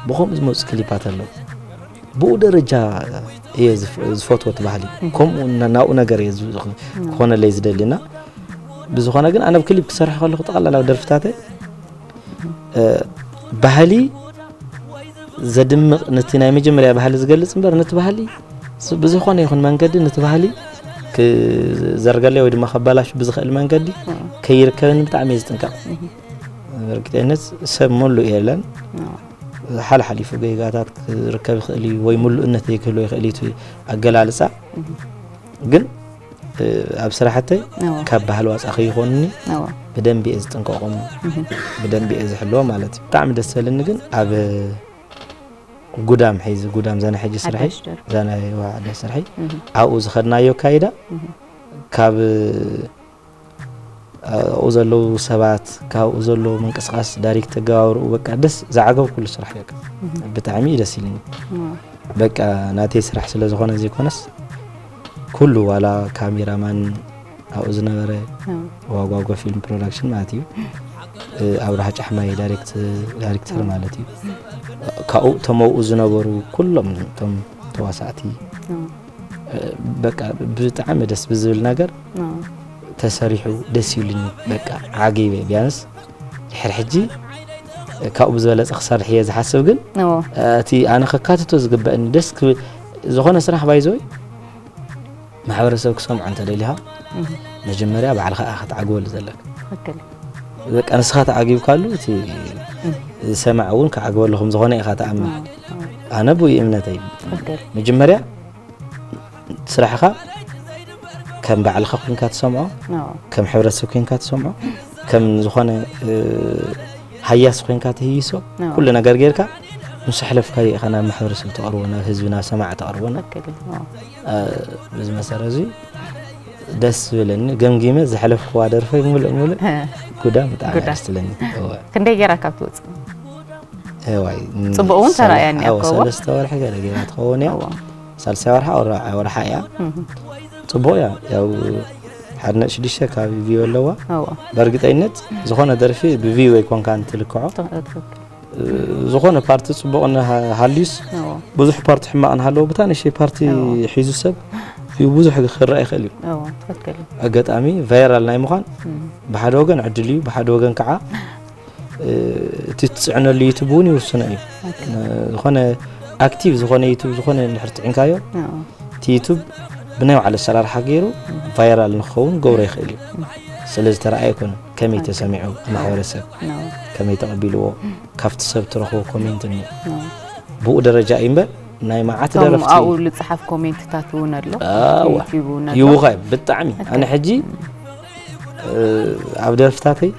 ብከምኡ ዝመፁ ክሊፓት ኣለዉ ብኡ ደረጃ እየ ዝፈትዎ እቲ ባህሊ ከምኡ ናብኡ ነገር እየ ክኾነለይ ዝደሊ እና ብዝኾነ ግን ኣነ ብ ክሊፕ ክሰርሕ ከለኹ ጠቕላላ ደርፍታተ ባህሊ ዘድምቕ ነቲ ናይ መጀመርያ ባህሊ ዝገልፅ እምበር ነቲ ባህሊ ብዝኾነ ይኹን መንገዲ ነቲ ባህሊ ክዘርገለይ ወይ ድማ ከባላሽ ብዝኽእል መንገዲ ከይርከብኒ ብጣዕሚ እየ ዝጥንቀቕ እርግጠኝነት ሰብ ሙሉእ የለን ሓልሓሊፉ ገይጋታት ክርከብ ይኽእል እዩ ወይ ሙሉእነት ዘይክህሎ ይኽእል እዩ ኣገላልፃ ግን ኣብ ስራሕተይ ካብ ባህል ዋፃ ከይኾኑኒ ብደንቢ እየ ዝጥንቀቆም ብደንቢ እየ ዝሕልዎ ማለት እዩ ብጣዕሚ ደስ በልኒ ግን ኣብ ጉዳም ሒዚ ጉዳም ዘና ሕጂ ስርሐ ዘና ስርሐ ኣብኡ ዝኸድናዮ ካይዳ ካብ ኣብኡ ዘለዉ ሰባት ካብኡ ዘለዉ ምንቅስቃስ ዳሪክ ተገባብርኡ በቃ ደስ ዝዓገብኩሉ ስራሕ እዩ ብጣዕሚ እዩ ደስ ኢልኒ በቃ ናተይ ስራሕ ስለ ዝኾነ ዘይኮነስ ኩሉ ዋላ ካሜራማን ኣብኡ ዝነበረ ዋጓጎ ፊልም ፕሮዳክሽን ማለት እዩ ኣብርሃ ጫሕማይ ዳይሬክተር ማለት እዩ ካብኡ ተመብኡ ዝነበሩ ኩሎም እቶም ተዋሳእቲ በቃ ብጣዕሚ ደስ ብዝብል ነገር ተሰሪሑ ደስ ይብልኒ በቃ ዓጊበ ቢያንስ ድሕሪ ሕጂ ካብኡ ብዝበለፀ ክሰርሕ እየ ዝሓስብ ግን እቲ ኣነ ከካትቶ ዝግበእኒ ደስ ክብል ዝኾነ ስራሕ ባይዞይ ማሕበረሰብ ክሰምዖ እንተደሊኻ መጀመርያ ባዕልኻ እያ ክትዓግበሉ ዘለካ በቃ ንስኻ ተዓጊብካሉ እቲ ዝሰማዕ እውን ክዓግበሉ ከም ዝኾነ ኢኻ ተኣምን ኣነ ብኡ እምነተይ መጀመርያ ስራሕኻ ከም ባዕልኻ ኮንካ ትሰምዖ ከም ሕብረተሰብ ኮንካ ትሰምዖ ከም ዝኾነ ሃያስ ኮንካ ትህይሶ ኩሉ ነገር ጌርካ ምስ ሕለፍካ ኢኻ ናብ ማሕበረሰብ ተቕርቦ ናብ ህዝቢ ናብ ሰማዕ ተቕርቦ በዚ መሰረ እዚ ደስ ዝብለኒ ገምጊመ ዘሕለፍክዋ ደርፈይ ሙሉእ ሙሉእ ጉዳ ብጣዕሚ ደስ ትብለኒ ክንደይ ጌራ ካብ ትወፅእ ዋይ ጽቡቅ እውን ተራእያኒ እያ እኮ። ሰለስተ ወርሒ ገለ ገይራ ትኸውን እያ ሳልሳይ ወርሓ ወርሓ እያ ጽቡቅ እያ ያው ሓደ ነጥቢ ሽዱሽተ ካብ ቪው ኣለዋ በእርግጠኝነት ዝኾነ ደርፊ ብቪው ኣይኮንካ እንትልክዖ ዝኾነ ፓርቲ ጽቡቅ ሃልዩስ ብዙሕ ፓርቲ ሕማቅ ንሃለዎ ብታ ንእሽተይ ፓርቲ ሒዙ ሰብ ቪው ብዙሕ ክረኣ ይኽእል እዩ ኣጋጣሚ ቫይራል ናይ ምዃን ብሓደ ወገን ዕድል እዩ ብሓደ ወገን ከዓ እቲ ትፅዕነሉ ዩቱብ እውን ይውስኖ እዩ ዝኾነ ኣክቲቭ ዝኾነ ዩቱብ ዝኾነ ንድሕር ፅዒንካዮ እቲ ዩቱብ ብናይ ባዕሉ ኣሰራርሓ ገይሩ ቫይራል ንክኸውን ገብሮ ይኽእል እዩ ስለ ዝተረኣየ ኮነ ከመይ ተሰሚዑ ማሕበረሰብ ከመይ ተቐቢልዎ ካብቲ ሰብ ትረኽቦ ኮሜንት እኒ ብኡ ደረጃ እዩ እምበር ናይ መዓት ደረፍቲ ኣብኡ ዝፅሓፍ ኮሜንትታት እውን ኣሎ ይውኸ ብጣዕሚ ኣነ ሕጂ ኣብ ደርፍታተይ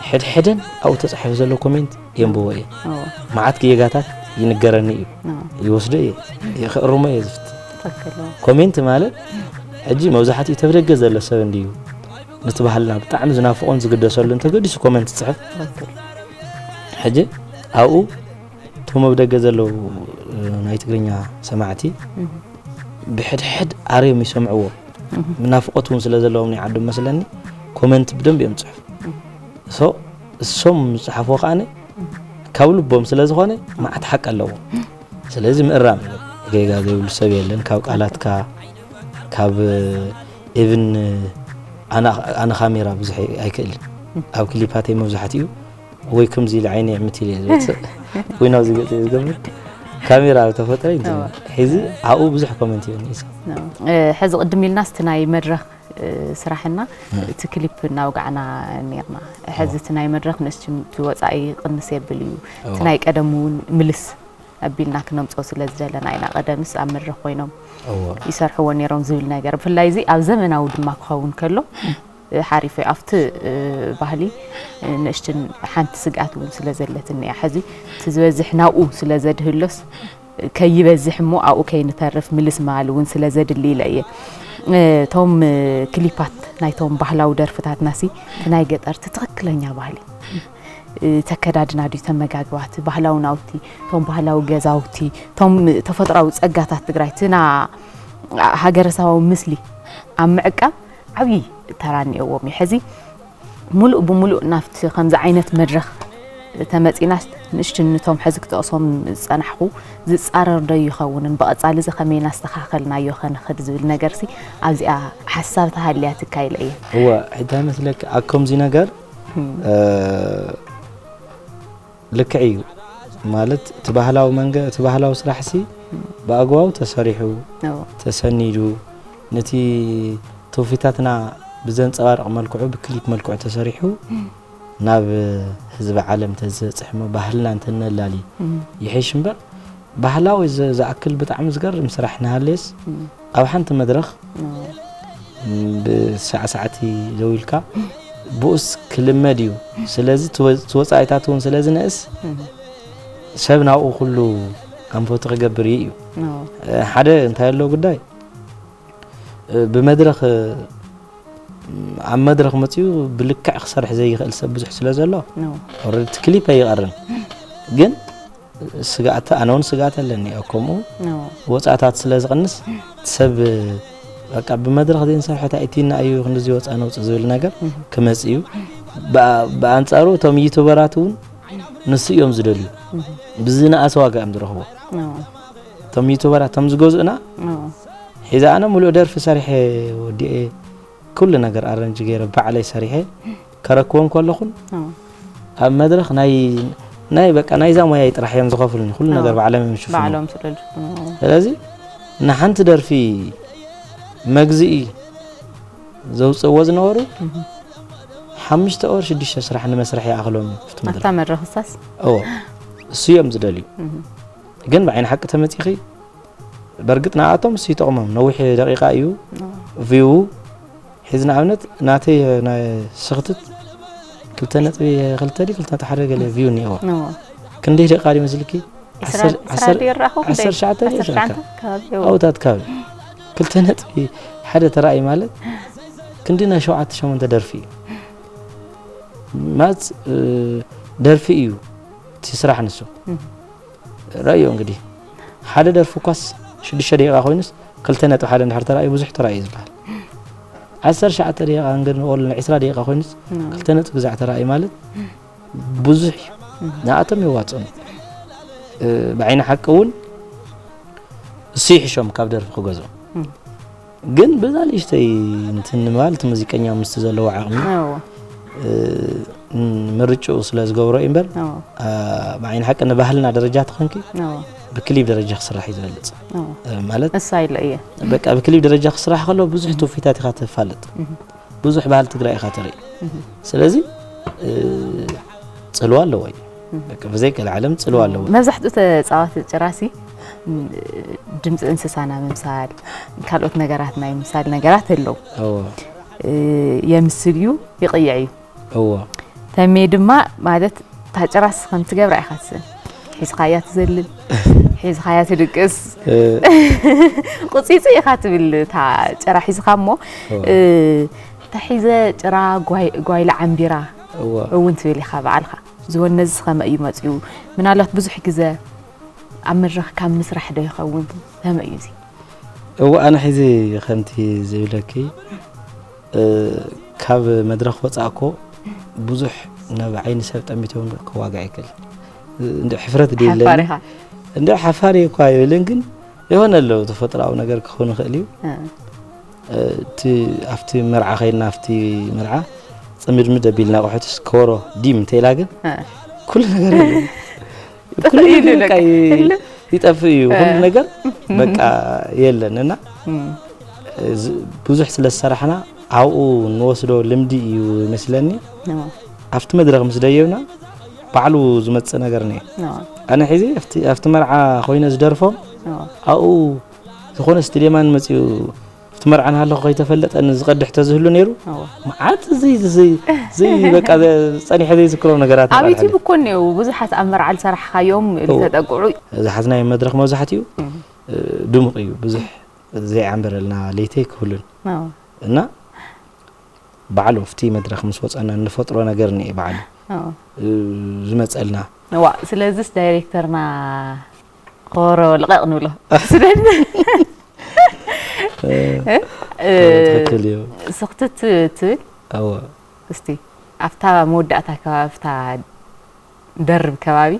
ሕድሕደን ኣብኡ ተፃሒፉ ዘሎ ኮሜንት የንብቦ እየ መዓት ጌጋታት ይንገረኒ እዩ ይወስዶ እየ ክእርሞ እየ ዝፍት ኮሜንት ማለት ሕጂ መብዛሕትኡ ተብደገ ዘሎ ሰብ እንድዩ ነቲ ባህልና ብጣዕሚ ዝናፍቆን ዝግደሰሉ እንተገዲሱ ኮሜንት ፅሕፍ ሕጂ ኣብኡ እቶም ኣብ ደገ ዘለዉ ናይ ትግርኛ ሰማዕቲ ብሕድሕድ ኣርዮም ይሰምዕዎ ናፍቆት ውን ስለ ዘለዎም ናይ ዓዶም መስለኒ ኮመንት ብደንብ እዮም ዝጽሕፉ ሶ እሶም ዝጽሓፍዎ ከኣ ካብ ልቦም ስለ ዝኾነ መዓት ሓቂ ኣለዎ ስለዚ ምእራም ጌጋ ዘይብሉ ሰብ የለን ካብ ቃላትካ ካብ ኢቭን ኣነ ካሜራ ብዙሕ ኣይክእልን ኣብ ክሊፓተይ መብዛሕትኡ ወይ ከምዚ ኢለ ዓይነይ ዕምት ኢለ ዝወፅእ ወይ ናብዚ ገፅ እየ ዝገብር ካሜራ ኣብ ተፈጥረ ሕዚ ኣብኡ ብዙሕ ኮመንት ይብኒ ሕዚ ቅድም ኢልና ስቲ ናይ መድረክ ስራሕና እቲ ክሊፕ እናውጋዕና ነርና ሕዚ እቲ ናይ መድረክ ንእስ ወፃኢ ቅንስ የብል እዩ እቲ ናይ ቀደም እውን ምልስ ኣቢልና ክነምፆ ስለ ዝደለና ኢና ቀደምስ ኣብ መድረክ ኮይኖም ይሰርሕዎ ነሮም ዝብል ነገር ብፍላይ እዚ ኣብ ዘመናዊ ድማ ክኸውን ከሎ ሓሪፈ ኣብቲ ባህሊ ንእሽትን ሓንቲ ስግኣት እውን ስለ ዘለትኒ እያ ሕዚ እቲ ዝበዝሕ ናብኡ ስለ ዘድህሎስ ከይበዝሕ እሞ ኣብኡ ከይንተርፍ ምልስ ምባል እውን ስለ ዘድሊ ኢለ እየ እቶም ክሊፓት ናይቶም ባህላዊ ደርፍታትና ሲ እቲ ናይ ገጠርቲ ትኽክለኛ ባህሊ ተከዳድና ድዩ ተመጋግባት ባህላዊ ናውቲ እቶም ባህላዊ ገዛውቲ እቶም ተፈጥሯዊ ፀጋታት ትግራይ ትና ሃገረሰባዊ ምስሊ ኣብ ምዕቃብ ዓብዪ ተራ እኒኦዎም እዩ። ሕዚ ሙሉእ ብሙሉእ ናብቲ ከምዚ ዓይነት መድረኽ ተመፂናስ ንእሽትን ንቶም ሕዚ ክጠቕሶም ዝፀናሕኹ ዝፃረር ዶ ይኸውንን ብቐፃሊ እዚ ከመይ እናስተኻኸልናዮ ከንኽድ ዝብል ነገርሲ ኣብዚኣ ሓሳብ ተሃልያ ትካ ኢለ እየ። እወ እንታይ መስለኪ ኣብ ከምዚ ነገር ልክዕ እዩ ማለት እቲ ባህላዊ መንገ እቲ ባህላዊ ስራሕሲ ብኣግባቡ ተሰሪሑ ተሰኒዱ ነቲ ትውፊታትና ብዘንፀባርቕ መልክዑ ብክሊፕ መልክዑ ተሰሪሑ ናብ ህዝቢ ዓለም ተዝበፅሕሞ ባህልና እንተነላሊ ይሕሽ እምበር ባህላዊ ዝኣክል ብጣዕሚ ዝገርም ስራሕ ንሃለየስ ኣብ ሓንቲ መድረኽ ብሳዕሳዕቲ ደው ኢልካ ብኡስ ክልመድ እዩ ስለዚ ትወፃኢታት እውን ስለ ዝንእስ ሰብ ናብኡ ኩሉ ኣንፈቱ ክገብር እዩ እዩ ሓደ እንታይ ኣሎ ጉዳይ ብመድረኽ ኣብ መድረኽ መፅኡ ብልክዕ ክሰርሕ ዘይኽእል ሰብ ብዙሕ ስለ ዘሎ ኦልሬዲ እቲ ክሊፕ ኣይቐርን ግን ስጋእቲ ኣነ እውን ስጋእቲ ኣለኒ ኣብ ከምኡ ወፃእታት ስለ ዝቕንስ ሰብ በቃ ብመድረኽ ዘይንሰርሐ ታይእቲና እዩ ክንዲዚ ወፃ ነውፅ ዝብል ነገር ክመፅ እዩ ብኣንፃሩ እቶም ዩቱበራት እውን ንሱ እዮም ዝደልዩ ብዝነኣሰ ዋጋ እዮም ዝረኽቦ እቶም ዩቱበራት እቶም ዝገዝኡና ሒዛ ኣነ ሙሉእ ደርፊ ሰሪሐ ወዲኤ ኩሉ ነገር ኣረንጅ ገይረ ባዕለይ ሰሪሐ ከረክቦም ከለኹን ኣብ መድረኽ ናይ ናይ በቃ ናይዛ ሞያይ ጥራሕ እዮም ዝኸፍሉኒ ኩሉ ነገር ባዕሎም እዮም ዝሽፍኑ ስለዚ ንሓንቲ ደርፊ መግዝኢ ዘውፅእዎ ዝነበሩ ሓሙሽተ ወር ሽዱሽተ ስራሕ ንመስርሒ ይኣኽሎም እዩ ፍቲ መድረኽ መድረኽ ሳስ እዎ እሱ እዮም ዝደልዩ ግን ብዓይኒ ሓቂ ተመፂኺ በርግጥ ንኣቶም እሱ ይጠቕሞም ነዊሕ ደቂቃ እዩ ቪው ሕዚ ንኣብነት ናተይ ናይ ስኽትት ክልተ ነጥቢ ክልተ ድዩ ክልተ ነጥቢ ሓደ ገለ ቪው እኒኦዎ እዎ ክንደይ ደቃ ድዩ መስልኪ ዓሰር- ስራ ዓሰር- ድዩ ራኹ ዓሰርተ ሸዓተ ድዩ ዓሰርተ ሸዓተ ሸዓተ? ከባቢ እዎ። ኣብታት ካብ ክልተ ነጥቢ ሓደ ተራእይ ማለት ክንዲ ናይ ሸውዓተ ሸሞንተ ደርፊ እዩ ማለት እ፣ ደርፊ እዩ እቲ ስራሕ ንሱ እም። ረኣዮ እንግዲህ ሓደ ደርፊ እኳስ ሽዱሽተ ደቂቃ ኮይኑስ ክልተ ነጥቢ ሓደ እንድሕር ተራእዩ ብዙሕ ተራእዩ ዝበሃል ዓሰርተ ሸዓተ ደቂቃ እንግን ኦል ዕስራ ደቂቃ ኮይኑስ ክልተ ነጥቢ ግዛዕ ተራእዩ ማለት ብዙሕ እዩ ንኣቶም የዋፅኦም ብዓይኒ ሓቂ እውን እሱ ይሕሾም ካብ ደርፊ ክገዝኦም ግን በዛ ንእሽተይ እንትን ማለት ሙዚቀኛ ምስቲ ዘለዎ ዓቕሚ ምርጭኡ ስለ ዝገብሮ እዩ እምበር ብዓይኒ ሓቂ ንባህልና ደረጃ ትኾንኪ ብክሊብ ደረጃ ክስራሕ እዩ ዝበልፅ ማለት እሳ ኢለ እየ በቃ ብክሊብ ደረጃ ክስራሕ ከሎ ብዙሕ ትውፊታት ኢኻ ተፋልጥ ብዙሕ ባህሊ ትግራይ ኢኻ ትርኢ ስለዚ ፅልዋ ኣለዎ እዩ በቃ ብዘይ ገለ ዓለም ፅልዋ ኣለዎ መብዛሕትኡ ተፃዋቲ ጭራሲ ድምፂ እንስሳ ናይ ምምሳል ካልኦት ነገራት ናይ ምምሳል ነገራት ኣለዉ እዎ የምስል እዩ ይቕይዕ እዩ እዎ ተሜ ድማ ማለት ታጭራስ ከም ትገብራ ኢኻ ትስእን ሒዝኻያ ትዘልል ሒዝኻያ ትድቅስ ቁፂፂ ኢኻ ትብል እታ ጭራ ሒዝኻ እሞ ተሒዘ ጭራ ጓይላ ዓምቢራ እውን ትብል ኢኻ በዓልኻ ዝወነዝ ከመ እዩ መፅኡ ምናልባት ብዙሕ ግዘ ኣብ መድረኽ ካብ ምስራሕ ዶ ይኸውን ከመ እዩ እዚ እዎ ኣነ ሒዚ ከምቲ ዝብለኪ ካብ መድረኽ ወፃእ እኮ ብዙሕ ናብ ዓይኒ ሰብ ጠሚቶም ከዋጋ ይክል እንደ ሕፍረት ደለኒ እንደ ሓፋሪ እኳ ይብልን ግን የሆነ ኣለዉ ተፈጥሮዊ ነገር ክኸውን ይኽእል እዩ እቲ ኣብቲ መርዓ ከይና ኣብቲ መርዓ ፅምድምድ ኣቢልና ኣቑሑትስ ከወሮ ዲም እንተኢላ ግን ኩሉ ነገር ኩሉ ነገር በቃ ይጠፍእ እዩ ኩሉ ነገር በቃ የለን እና ብዙሕ ስለ ዝሰራሕና ኣብኡ ንወስዶ ልምዲ እዩ ይመስለኒ ኣብቲ መድረኽ ምስ ደየብና ባዕሉ ዝመፅእ ነገር ነ ኣነ ሕዚ ኣብቲ መርዓ ኮይነ ዝደርፎም ኣብኡ ዝኾነ ስቴድየማን መፅኡ እቲ መርዓ እናሃለኹ ከይተፈለጠ ዝቐድሕ ተዝህሉ ነይሩ መዓት በቃ ፀኒሐ ዘይዝክሮም ነገራት ኣብ ዩቲዩብ እኮ እኒአው ብዙሓት ኣብ መርዓ ዝሰራሕኻዮም ዝተጠቅዑ ዝሓዝናዮ መድረኽ መብዛሕትኡ ድሙቕ እዩ ብዙሕ ዘይዓምበረልና ለይቲ ኣይክህሉን እና በዓል ወፍቲ መድረኽ ምስ ወፀና እንፈጥሮ ነገር እኒአ በዓል ዝመፀልና ስለዚስ ዳይሬክተርና ኾሮ ልቐቕ ንብሎ ስኽትት ትብል እስቲ ኣብታ መወዳእታ ከባቢ ኣብታ ደርብ ከባቢ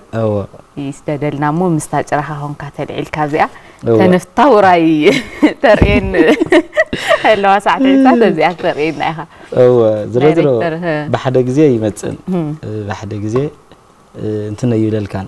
ይስደደልና እሞ ምስታ ጭራኻ ኮንካ ተልዒልካ እዚኣ ተነፍታ ውራይ ተርእየን ኣለዋ ሳዕ ተዒልታ ተዚኣ ተርእየና ኢኻ እወ ዝሮ ዝሮ ብሓደ ግዜ ይመፅን ብሓደ ግዜ እንትን ኣይብለልካን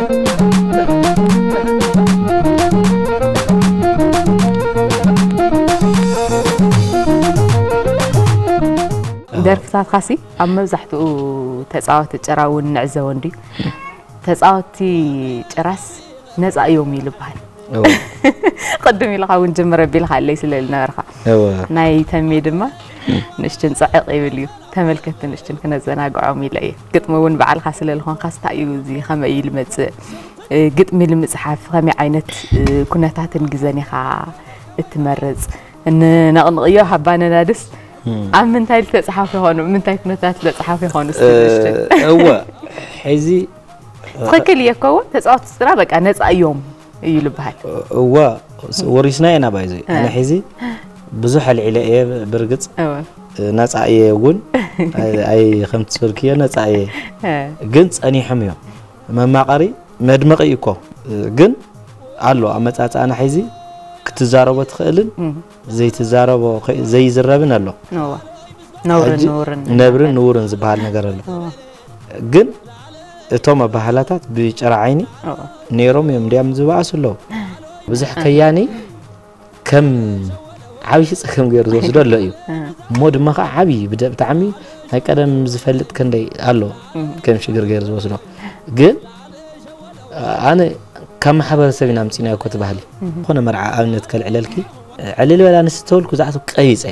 ደርፍታትካሲ ኣብ መብዛሕትኡ ተፃወቲ ጭራ እውን ንዕዘቦ እንድዩ ተፃወቲ ጭራስ ነፃ እዮም እዩ ዝበሃል ቅድም ኢልኻ እውን ጅምር ኣቢልካ ኣለይ ስለ ዝነበርካ ናይ ተሜ ድማ ንእሽትን ፅዕቕ ይብል እዩ ተመልከቲ ንሽትን ክነዘናግዖም ኢለ እየ ግጥሚ እውን በዓልካ ስለ ዝኾንካስ እንታይ እዩ እዚ ከመይ እዩ ልመፅእ ግጥሚ ልምፅሓፍ ከመይ ዓይነት ኩነታትን ግዘን ኢኻ እትመርፅ ንነቕንቕዮ ሃባነናድስ ኣብ ምንታይ ዝተፅሓፉ ይኾኑ ምንታይ ኩነታት ዝተፅሓፉ ይኾኑ እወ ሕዚ ትኽክል እየ ኮ ተፃወቲ ስድራ በቃ ነፃ እዮም እዩ ልበሃል እወ ወሪስና ኢና ባይዘ ኣነ ሕዚ ብዙሕ ኣልዒለ እየ ብርግፅ ነፃ እየ እውን ኣይ ከምቲ ዝበልክዮ ነፃ እየ ግን ፀኒሖም እዮም መማቐሪ መድመቂ እዩ እኮ ግን ኣሎ ኣመፃፅኣና ሕዚ ክትዛረቦ ትኽእልን ዘይትዛረቦ ከ- ዘይዝረብን ኣሎ እወ ነውርን ሕጂ ንውርን ነብርን ንውርን ዝበሃል ነገር ኣሎ እወ ግን እቶም ኣባህላታት ብጨራ ዓይኒ እወ ነይሮም እዮም እንዲያም ዝበኣሱ ኣለዉ ብዙሕ ከያኒ ከም ዓብዪ ፀገም ገይሩ ዝወስዶ ኣሎ እዩ እ፣ እሞ ድማ ከዓ ዓብዪ ብደ- ብጣዕሚ ናይ ቀደም ዝፈልጥ ክንደይ ኣሎ ከም ሽግር ገይሩ ዝወስዶ ግን ኣነ ካብ ማሕበረሰብ ኢና ምፂናዮ ኮቲ ባህሊ ዝኾነ መርዓ ኣብነት ከልዕለልኪ ዕልል በላ ንስ ተበልኩ ዛዕቱ ቀቢፀ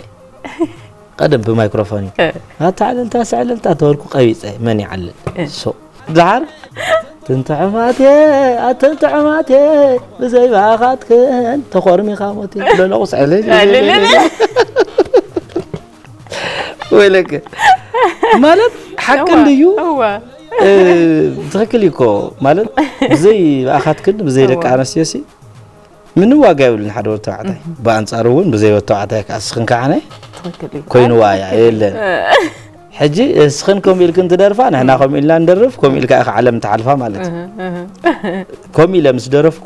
ቀደም ብማይክሮፎን እዩ ኣታ ዕልልታ ስዕልልታ ተበልኩ ቀቢፀ መን ይዓልል ሱቅ ድሓር ትንትዕማቴ ኣትንትዕማቴ ብዘይ ባኻትክን ተኾርሚኻ ሞቴ ለለቑስ ዕልል ወይለከ ማለት ሓቂ እንድዩ ትክክል እኮ ማለት ብዘይ ብኣኻትክን ብዘይ ደቂ ኣነስትዮ ሲ ምንም ዋጋ የብሉን ሓደ ወዲ ተባዕታይ ብኣንፃሩ እውን ብዘይ ወዲ ተባዕታይ ከዓ እስኽን ከዓ ኮይኑዋ እያ የለን ሕጂ እስኽን ከምኡ ኢልክን ትደርፋ ንሕና ከምኡ ኢልና ንደርፍ ከምኡ ኢልካ ኢኻ ዓለም ትሓልፋ ማለት እዩ ከምኡ ኢለ ምስ ደረፍኩ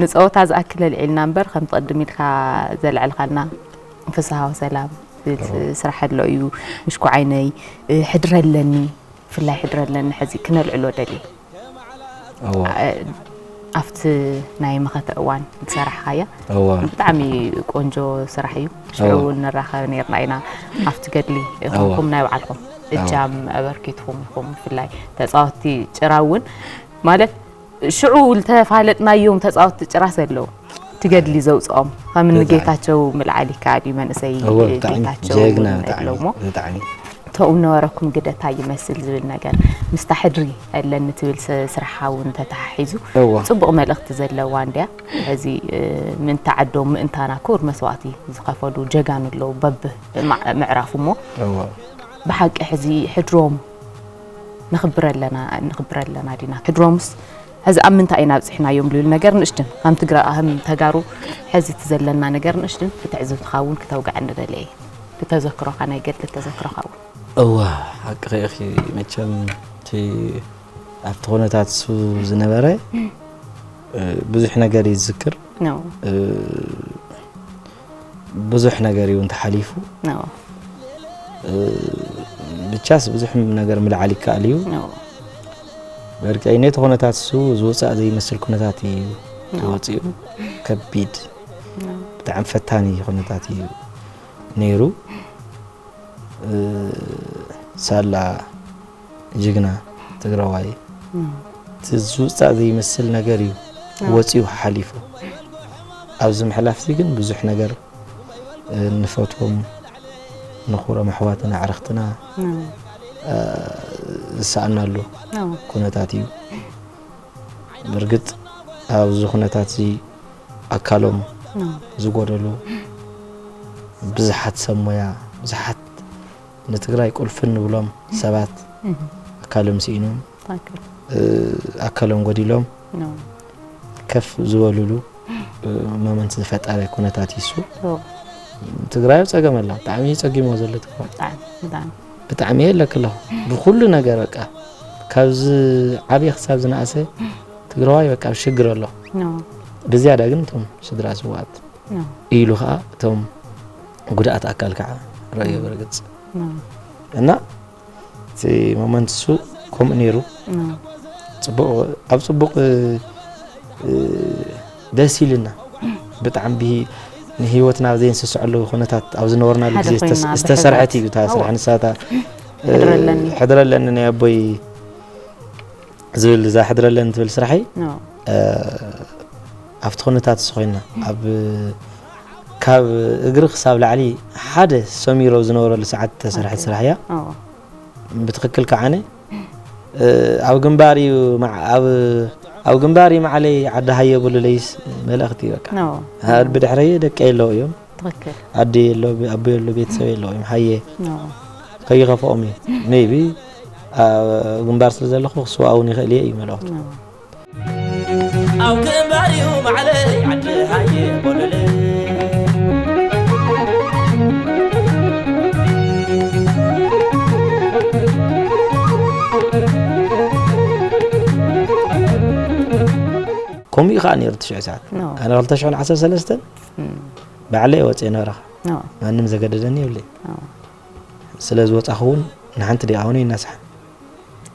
ንጸወታ ዝኣክል ኣልዒልና እምበር ከምቲ ቅድም ኢልካ ዘልዐልካልና ፍስሃ ወሰላም ስራሕ ኣሎ እዩ ምሽኩዓይነይ ሕድሪ ኣለኒ ብፍላይ ሕድሪ ኣለኒ ሕዚ ክነልዕሎ ደልየ እወ ኣብቲ ናይ መኸተ እዋን ዝሰራሕኻያ እወ ብጣዕሚ ቆንጆ ስራሕ እዩ ሽዑ እወ። እውን ንራኸብ ነርና ኢና ኣብቲ ገድሊ ይኹንኩም ናይ ባዕልኹም እጃም ኣበርኪትኩም ኢኹም ብፍላይ ተፃወትቲ ጭራ እውን ማለት ሽዑ ዝተፋለጥናዮም ተጻወትቲ ጭራ ዘለው እቲ ገድሊ ዘውፅኦም ከም እኒ ጌታቸው ምልዓል ይከኣል እዩ መንእሰይ ጌታቸው ኣለውሞ ተኡ ነበረኩም ግደታ ይመስል ዝብል ነገር ምስታ ሕድሪ ኣለኒ ትብል ስራሓ እውን ተተሓሒዙ ፅቡቕ መልእኽቲ ዘለዋ እንድያ እዚ ምእንቲ ዓዶም ምእንታና ክቡር መስዋእቲ ዝኸፈሉ ጀጋኑ ኣለዉ በብ ምዕራፉ እሞ ብሓቂ ሕዚ ሕድሮም ንክብረ ኣለና ንክብረ ኣለና ዲና ትድሮምስ ሕዚ ኣብ ምንታይ ኢና ኣብፅሕናዮም ልብል ነገር ንእሽትን ከም ትግራ ከም ተጋሩ ሕዚ እቲ ዘለና ነገር ንእሽትን ብትዕዝብትኻ እውን ክተውግዐኒ ደለየ ብተዘክሮኻ ናይ ገድሊ ተዘክሮኻ እውን እወ ሓቅኺ ኢኺ መቸም እቲ ኣብቲ ኩነታት እሱ ዝነበረ ብዙሕ ነገር እዩ ዝዝክር ነው ብዙሕ ነገር እዩ እንተሓሊፉ ብቻስ ብዙሕ ነገር ምልዓል ይከኣል እዩ በእርግጠኝነት ኩነታት እሱ ዝወፃእ ዘይመስል ኩነታት እዩ ተወፂኡ ከቢድ ብጣዕሚ ፈታኒ ኩነታት እዩ ነይሩ ሳላ ጅግና ትግራዋይ እቲ ዝውፃእ ዘይመስል ነገር እዩ ወፂኡ ሓሊፉ ኣብዚ ምሕላፍዚ ግን ብዙሕ ነገር ንፈትዎም ንኹሮም ኣሕዋትና ኣዕርኽትና ዝሰኣናሉ ኩነታት እዩ ብርግፅ ኣብዚ ኩነታት እዚ ኣካሎም ዝጎደሉ ብዙሓት ሰብ ሞያ ብዙሓት ንትግራይ ቁልፊ እንብሎም ሰባት ኣካሎም ስኢኖም ኣካሎም ጎዲሎም ከፍ ዝበሉሉ መመንት ዝፈጠረ ኩነታት ይሱ ትግራይ ኣብ ፀገም ኣላ ብጣዕሚ ፀጊሞ ዘሎ ትግራይ ብጣዕሚ የለክ ኣለኹ ብኩሉ ነገር በቃ ካብዚ ዓብዪ ክሳብ ዝነኣሰ ትግራዋይ በቃ ኣብ ሽግር ኣሎ ብዝያዳ ግን እቶም ስድራ ስዋኣት ኢሉ ከዓ እቶም ጉድኣት ኣካል ከዓ ረእዮ ብርግፅ እና እቲ ሞመንት እሱ ከምኡ ነይሩ ፅቡቅ ኣብ ፅቡቅ ደስ ኢልና ብጣዕሚ ንሂወትና ዘይንስስዐሉ ኩነታት ኣብ ዝነበርናሉ ግዜ ዝተሰርሐት እዩ እታ ስራሕ ንሳታ ሕድረለኒ ናይ ኣቦይ ዝብል እዛ ሕድረለን ትብል ስራሐይ ኣብቲ ኩነታት እሱ ኮይና ኣብ ካብ እግሪ ክሳብ ላዕሊ ሓደ ሰሚሮ ዝነበረሉ ሰዓት ተሰርሐት ስራሕ እያ ብትክክል ከዓነ ኣብ ግንባር እዩ ኣብ ግንባር እዩ ማዕለይ ዓዲ ሃየ ብሉለይስ መልእኽቲ በቃ ብድሕረየ ደቀ የለው እዮም ትክክል ኣደ የሎ ኣቦ የሎ ቤተሰብ የሎ ወይም ሃየ ከይኸፍኦም እዩ ሜቢ ግንባር ስለ ዘለኹ ክስዋእውን ይኽእል እየ እዩ መልእኽቱ ኣብ ግንባር እዩ ማዕለይ ዓዲ ሃየ ቦለለ ከምኡ እዩ ከዓ ነይሩ ትሽዑ ሰዓት ኣነ 213 ባዕለይ እየ ወፅየ ናብራኻ ማንም ዘገደደኒ የብለይ ስለ ዝወፃኹ እውን ንሓንቲ ደኣ እውን ይነስሓ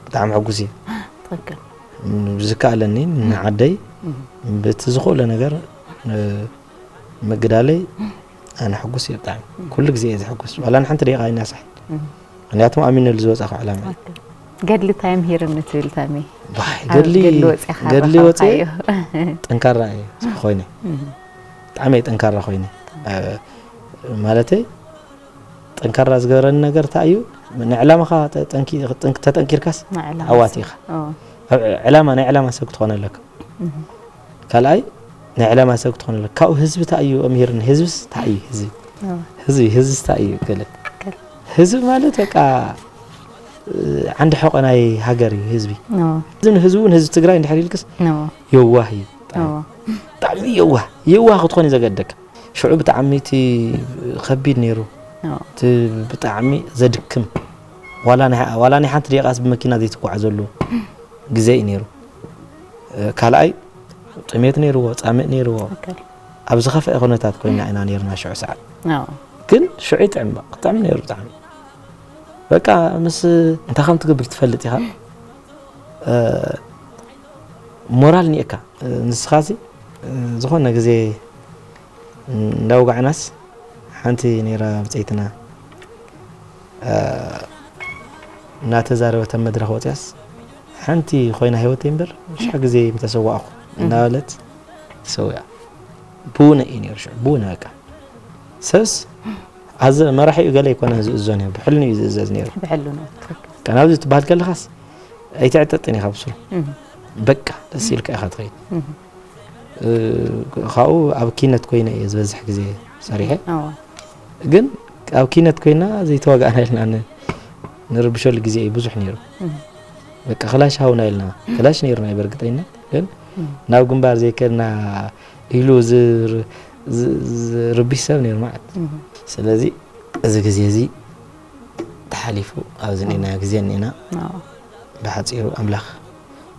ብጣዕሚ ሕጉስ እየ ብዝከኣለኒ ንዓደይ በቲ ዝኾለ ነገር ምግዳለይ ኣነ ሕጉስ እየ ብጣዕሚ ኩሉ ግዜ እየ ዝሕጉስ ዋላ ንሓንቲ ደቂቃ ኣይናሳሕ ምክንያቱ ኣሚነሉ ዝወፃኹ ዕላማ እዩ ገድሊ ታይ ምሂርኒ ትብል ተሜ? ዋይ ገድሊ ገድሊ ወጺኻ ገድሊ ወጺ ረኸብካዮ። ጠንካራ እየ ኮይነ ብጣዕሚ እየ ጠንካራ ኮይነ እ፣ ማለተይ ጠንካራ ዝገበረኒ ነገር እንታይ እዩ ንዕላማኻ ጠ- ጠንኪ- ጠንክ- ተጠንኪርካስ ንዕላማ ዓዋቲ ሰብ። ኢኻ ኦ፣ ኣብ ዕላማ ናይ ዕላማ ሰብ ክትኾነ ኣለካ ካልኣይ ናይ ዕላማ ሰብ ክትኾን ኣለካ ካብኡ ህዝቢ ታይ እዩ ኣምሂርኒ ህዝብስ ታይ እዩ ህዝቢ ህዝቢ ህዝብስ ታይ እዩ ገለ ህዝቢ ማለት በቃ ዓንዲ ሕቆ ናይ ሃገር እዩ ህዝቢ እዚ ንህዝቢ እውን ህዝቢ ትግራይ እንድሕር ኢልክስ የዋህ እዩ ብጣዕሚ የዋህ የዋህ ክትኾን እዩ ዘገደካ ሽዑ ብጣዕሚ እቲ ከቢድ ነይሩ እቲ ብጣዕሚ ዘድክም ዋላ ናይ ሓንቲ ደቂቃስ ብመኪና ዘይትጓዓዘሉ ግዜ እዩ ነይሩ ካልኣይ ጥሜት ነይርዎ ፃምእ ነይርዎ ኣብ ዝኸፍአ ኩነታት ኮይና ኢና ነርና ሽዑ ሰዓት ግን ሽዑ ይጥዕም ክጥዕም ነይሩ ብጣዕሚ በቃ ምስ እንታይ ከም ትገብር ትፈልጥ ኢኻ ሞራል ኒኤካ ንስኻ እዚ ዝኾነ ግዜ እንዳውጋዕናስ ሓንቲ ነይራ ብፀይትና እናተዛረበት ኣብ መድረኽ ወፂኣስ ሓንቲ ኮይና ሂወተይ እምበር ብዙሕ ግዜ ምተሰዋእኹ እናበለት ተሰዊኣ ብውነ እዩ ነይሩ ሽዑ ብውነ በቃ ሰብስ ኣዘ መራሒኡ ገለ ኣይኮነን ዝእዞ ነይሩ ብሕልኑ እዩ ዝእዘዝ ነይሩ ብሕልኑ ናብዚ ትበሃል ከለኻስ ኣይትዕጠጥን ኢኻ ብስሩ በቃ ደስ ኢልካ ኢኻ ትኸይድ ካብኡ ኣብ ኪነት ኮይነ እየ ዝበዝሕ ግዜ ሰሪሐ ግን ኣብ ኪነት ኮይና ዘይተዋጋእና ኢልና ንርብሸሉ ግዜ እዩ ብዙሕ ነይሩ በቃ ክላሽ ሃውና ኢልና ክላሽ ነይሩና እዩ በርግጠኝነት ግን ናብ ግንባር ዘይከድና ኢሉ ዝርብሽ ሰብ ነይሩ ማለት ስለዚ እዚ ግዜ እዚ ተሓሊፉ ኣብዚ ኒና ግዜ ኒና ብሓፂሩ ኣምላኽ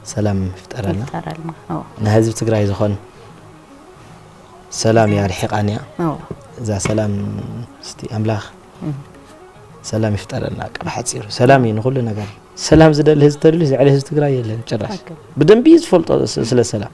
ሰላም ይፍጠረልና ይፍጠረልና ኣዎ ናይ ህዝቢ ትግራይ ዝኾን ሰላም እያ ርሒቓን እያ ኣዎ እዛ ሰላም እስቲ ኣምላኽ ሰላም ይፍጠረልና በቃ ብሓፂሩ ሰላም እዩ ንኹሉ ነገር ሰላም ዝደሊ ህዝቢ ተደልዩ ልዕሊ ህዝቢ ትግራይ የለን ጭራሽ ሓቂ። ብደንቢ እዩ ዝፈልጦ ስ- ስለ ሰላም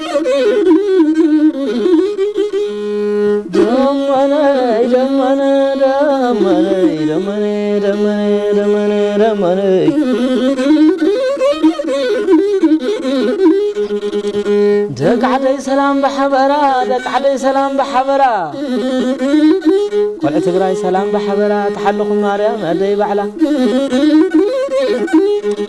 ደቃዓደይ ሰላም ብሓበራ ደቃዓደይ ሰላም ብሓበራ ቆልዑ ትግራይ ሰላም ብሓበራ ተሓልኹም ማርያም ኣደይ ባዕላ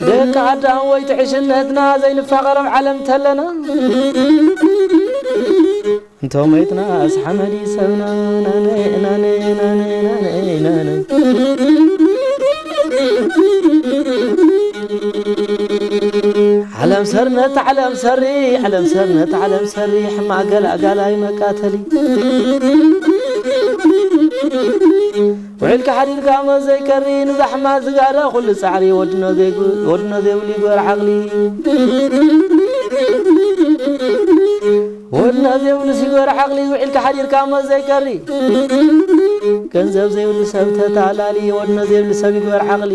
ደቂ ኣዳም ወይ ትዕሽነትና ዘይንፋቀሮም ዓለም ተለና። እንተ ሞይትናስ ሓመድ እዩ ሰብና ናነይ ናነይ ናነይ ናነይ ናነይ ዓለም ሰርነት ዓለም ሰሪ ዓለም ሰርነት ዓለም ሰሪ ሕማቅ ገላጋላይ መቃተሊ ውዒልካ ሓዲርካ ሞት ዘይከሪ ንዛሕማ ዝጋራ ኩሉ ጻዕሪ ወድኖ ወድኖ ዘይብሉ ይግበር ዓቕሊ ወድኖ ዘይብሉ ሲግበር ዓቕሊ ውዒልካ ሓዲርካ ሞት ዘይከሪ ገንዘብ ዘይብሉ ሰብ ተታላሊ ወድኖ ዘይብሉ ሰብ ይግበር ዓቕሊ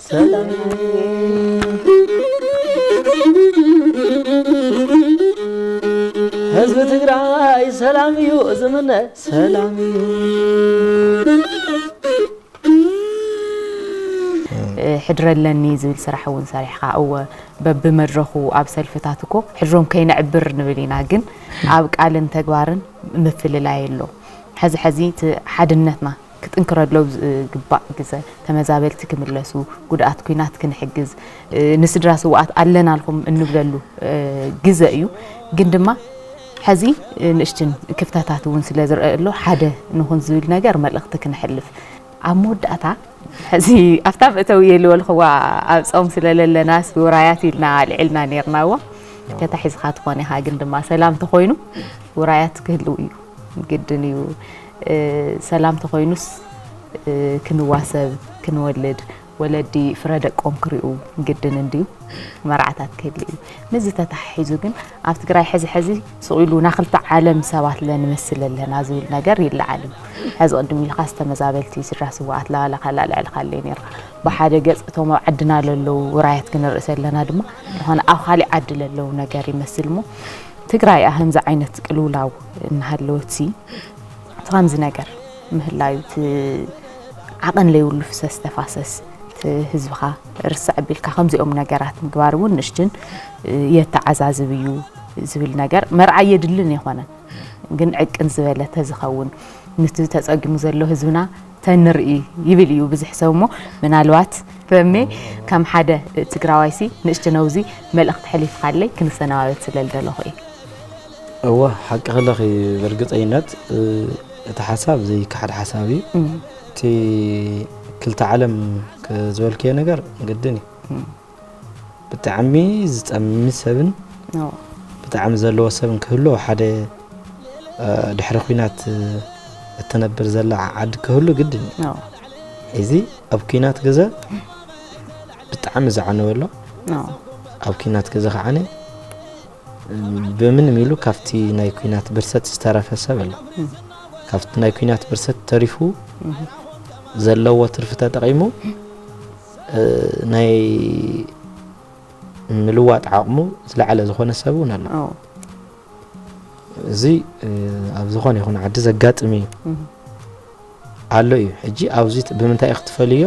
ህዝቢ ትግራይ ሰላም እዩ ዝምነ ሰላም እዩ ሕድሪ ኣለኒ ዝብል ስራሕ እውን ሰሪሕካ እወ በብመድረኹ ኣብ ሰልፍታት እኮ ሕድሮም ከይነዕብር ንብል ኢና ግን ኣብ ቃልን ተግባርን ምፍልላይ ኣሎ ሕዚ ሕዚ እቲ ሓድነትና ክጥንክረሎም ዝግባእ ግዘ፣ ተመዛበልቲ ክምለሱ፣ ጉድኣት ኩናት ክንሕግዝ፣ ንስድራ ስውኣት ኣለናልኩም እንብለሉ ግዘ እዩ። ግን ድማ ሐዚ ንእሽትን ክፍተታት እውን ስለዝረኣ ኣሎ ሓደ ንኹን ዝብል ነገር መልእኽቲ ክነሕልፍ ኣብ መወዳእታ ሕዚ ኣብታ መእተዊ የልወልኽዋ ኣብ ፆም ስለለለናስ ውራያት ኢልና ኣልዒልና ነርናዎ ተታሒዝኻ ትኾን ኢኻ ግን ድማ ሰላም ተኾይኑ ውራያት ክህልው እዩ። ግድን እዩ ሰላም ተኾይኑስ ክንዋሰብ ክንወልድ ወለዲ ፍረ ደቆም ክሪኡ ግድን እንድዩ መርዓታት ክህሉ እዩ ምስዚ ተተሓሒዙ ግን ኣብ ትግራይ ሕዚ ሕዚ ሱቕ ኢሉ ናይ ክልተ ዓለም ሰባት ለንመስል ኣለና ዝብል ነገር ይለዓል እዩ ሕዚ ቅድም ኢልካ ዝተመዛበልቲ ስድራ ስዋኣት ላላ ካላ ልዕሊ ካለዩ ነይሩ ብሓደ ገፅ እቶም ኣብ ዓድና ለለዉ ውራያት ክንርኢ ዘለና ድማ ዝኾነ ኣብ ካሊእ ዓዲ ለለዉ ነገር ይመስል እሞ ትግራይ ኣህም ዝዓይነት ቅልውላው እናሃለወትሲ እቲ ከምዚ ነገር ምህላዩ እቲ ዓቐን ለይብሉ ፍሰስ ተፋሰስ እቲ ህዝብኻ ርስዕ ቢልካ ከምዚኦም ነገራት ምግባር እውን ንእሽትን የተዓዛዝብ እዩ ዝብል ነገር መርዓ የድልን የኾነን ግን ዕቅን ዝበለ ተዝኸውን ንቲ ተፀጊሙ ዘሎ ህዝብና ተንርኢ ይብል እዩ ብዝሕ ሰብ እሞ ምናልባት ረሜ ከም ሓደ ትግራዋይሲ ንእሽቲ ነውዚ መልእኽቲ ሕሊፍኻለይ ክንሰነባበት ስለ ልደለኹ እዩ እወ ሓቂ ክለኺ ብርግፀይነት እቲ ሓሳብ ዘይከሓድ ሓሳብ እዩ እቲ ክልተ ዓለም ዝበልክዮ ነገር ግድን እዩ ብጣዕሚ ዝጠሚ ሰብን ብጣዕሚ ዘለዎ ሰብን ክህሉ ኣብ ሓደ ድሕሪ ኩናት እትነብር ዘላ ዓዲ ክህሉ ግድን እዩ እዚ ኣብ ኩናት ግዘ ብጣዕሚ ዝዓነወ ኣሎ ኣብ ኩናት ግዘ ከዓነ ብምንም ኢሉ ካብቲ ናይ ኩናት ብርሰት ዝተረፈ ሰብ ኣሎ ካብቲ ናይ ኩናት ብርሰት ተሪፉ ዘለዎ ትርፊ ተጠቂሙ ናይ ምልዋጥ ዓቕሙ ዝለዓለ ዝኾነ ሰብ እውን ኣሎ እዚ ኣብ ዝኾነ ይኹን ዓዲ ዘጋጥም እዩ ኣሎ እዩ ሕጂ ኣብዚ ብምንታይ ክትፈልዮ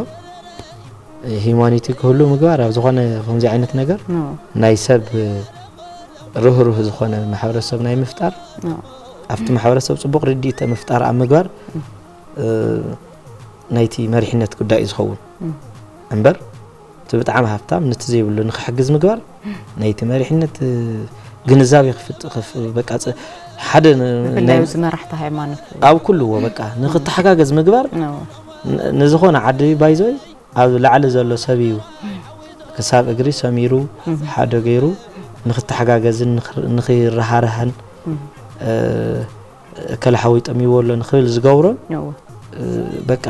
ሂማኒቲ ክህሉ ምግባር ኣብ ዝኾነ ከምዚ ዓይነት ነገር ናይ ሰብ ርህሩህ ዝኾነ ማሕበረሰብ ናይ ምፍጣር ኣብቲ ማሕበረሰብ ፅቡቕ ርድኢተ ምፍጣር ኣብ ምግባር ናይቲ መሪሕነት ጉዳይ እዩ ዝኸውን እምበር እቲ ብጣዕሚ ሃብታም ነቲ ዘይብሉ ንክሕግዝ ምግባር ናይቲ መሪሕነት ግንዛቤ በቃ ሓደ ብፍላይ እዚ መራሕቲ ሃይማኖት ኣብ ኩልዎ በቃ ንክተሓጋገዝ ምግባር ንዝኾነ ዓዲ ባይዞ ኣብ ላዕሊ ዘሎ ሰብ እዩ ክሳብ እግሪ ሰሚሩ ሓደ ገይሩ ንክተሓጋገዝን ንክረሃርሃን እከለ ሓወይ ጠሚዎ ኣሎ ንክብል ዝገብሮን በቃ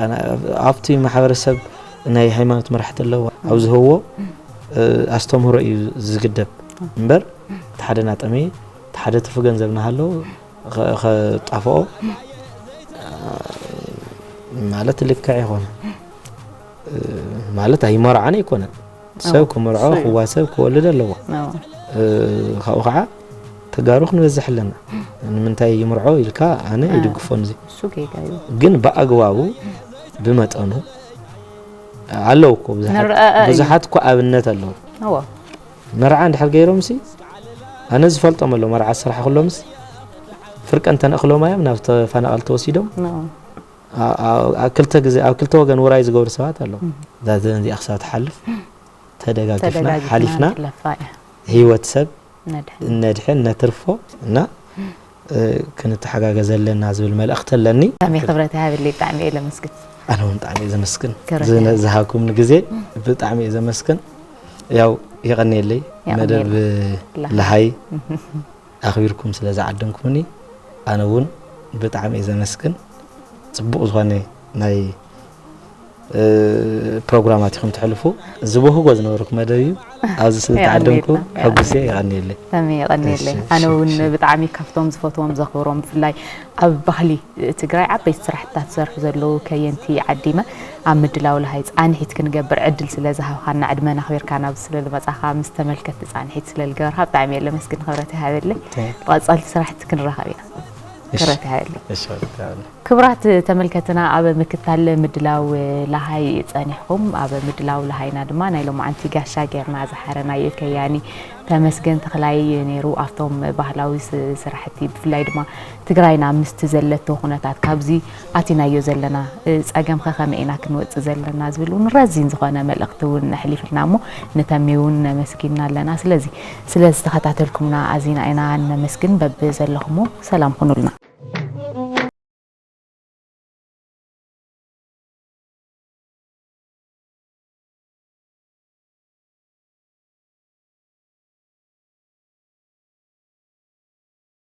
ኣብቲ ማሕበረሰብ ናይ ሃይማኖት መራሕቲ ኣለዋ ኣብ ዝህብዎ ኣስተምህሮ እዩ ዝግደብ እምበር እቲ ሓደ ናጠመየ እቲ ሓደ ትርፊ ገንዘብ ናሃለዎ ከጣፍኦ ማለት ልክዕ ይኾነ ማለት ኣይመርዓን ኣይኮነን ሰብ ክምርዖ ክዋሰብ ክወልድ ኣለዎ ካብኡ ከዓ ተጋሩ ክንበዝሕ ኣለና ንምንታይ ይምርዖ ኢልካ ኣነ ይድግፎን እዚ ግን ብኣግባቡ ብመጠኑ ኣለዉ እኮ ብዙሓት እኮ ኣብነት ኣለዉ መርዓ እንድሕር ገይሮም ሲ ኣነ ዝፈልጦም ኣሎ መርዓ ስራሕ ክሎምስ ፍርቀ እንተነእክሎም እዮም ናብ ተፈናቐል ተወሲዶም ክልተ ግዜ ኣብ ክልተ ወገን ውራይ ዝገብሩ ሰባት ኣለዉ። እዛ ዘበን እዚኣ ክሳብ ትሓልፍ ተደጋጊፍና ሓሊፍና ህይወት ሰብ ነድሕን ነትርፎ እና ክንተሓጋገዘ ኣለና ዝብል መልእኽቲ ኣለኒ። ብጣዕሚ ክብረት ይሃበለይ ብጣዕሚ እየ ለመስግን። ኣነ እውን ብጣዕሚ እየ ዘመስግን ዝሃብኩምኒ ግዜ ብጣዕሚ እየ ዘመስግን። ያው የቐንየለይ መደብ ለሃይ ኣኽቢርኩም ስለ ዝዓደምኩምኒ ኣነ እውን ብጣዕሚ እየ ዘመስግን። ፅቡቕ ዝኾነ ናይ ፕሮግራማት ኢኹም ተሕልፉ። ዝበህጎ ዝነበርኩ መደብ እዩ። ኣብዚ ስለ ተዓደምኩ ሕጉስ እየ። የቐንየለይ። ተሜ የቐንየለይ። ኣነ እውን ብጣዕሚ ካብቶም ዝፈትዎም ዘኽብሮም ብፍላይ ኣብ ባህሊ ትግራይ ዓበይቲ ስራሕትታት ዝሰርሑ ዘለዉ ከየንቲ ዓዲመ ኣብ ምድላው ለሃይ ጻንሒት ክንገብር ዕድል ስለ ዝሃብኻና ዕድመን ኣኽቢርካ ናብዚ ስለ ልመጻኻ ምስ ተመልከትቲ ጻንሒት ስለ ልገበርካ ብጣዕሚ እየ ለመስግን ክብረት ይሃበለይ ብቐጻልቲ ስራሕቲ ክንራኸብ ኢና ክብረት ይሃበለይ ክብራት ተመልከትና ኣብ ምክታል ምድላው ለሃይ ጸኒሕኹም ኣብ ምድላው ለሃይና ድማ ናይ ሎማዓንቲ ጋሻ ጌርና ዝሓረናዮ ከያኒ ተመስገን ተኽላይ ነይሩ ኣብቶም ባህላዊ ስራሕቲ ብፍላይ ድማ ትግራይና ምስቲ ዘለቶ ኩነታት ካብዚ ኣቲናዮ ዘለና ጸገም ከ ከመይ ኢና ክንወጽእ ዘለና ዝብል ውን ረዚን ዝኮነ መልእክቲ ውን ኣሕሊፍልና እሞ ንተሜ ውን ነመስጊና ኣለና ስለዚ ስለ ዝተከታተልኩምና ኣዚና ኢና ነመስግን በብ ዘለኩሞ ሰላም ኩኑልና።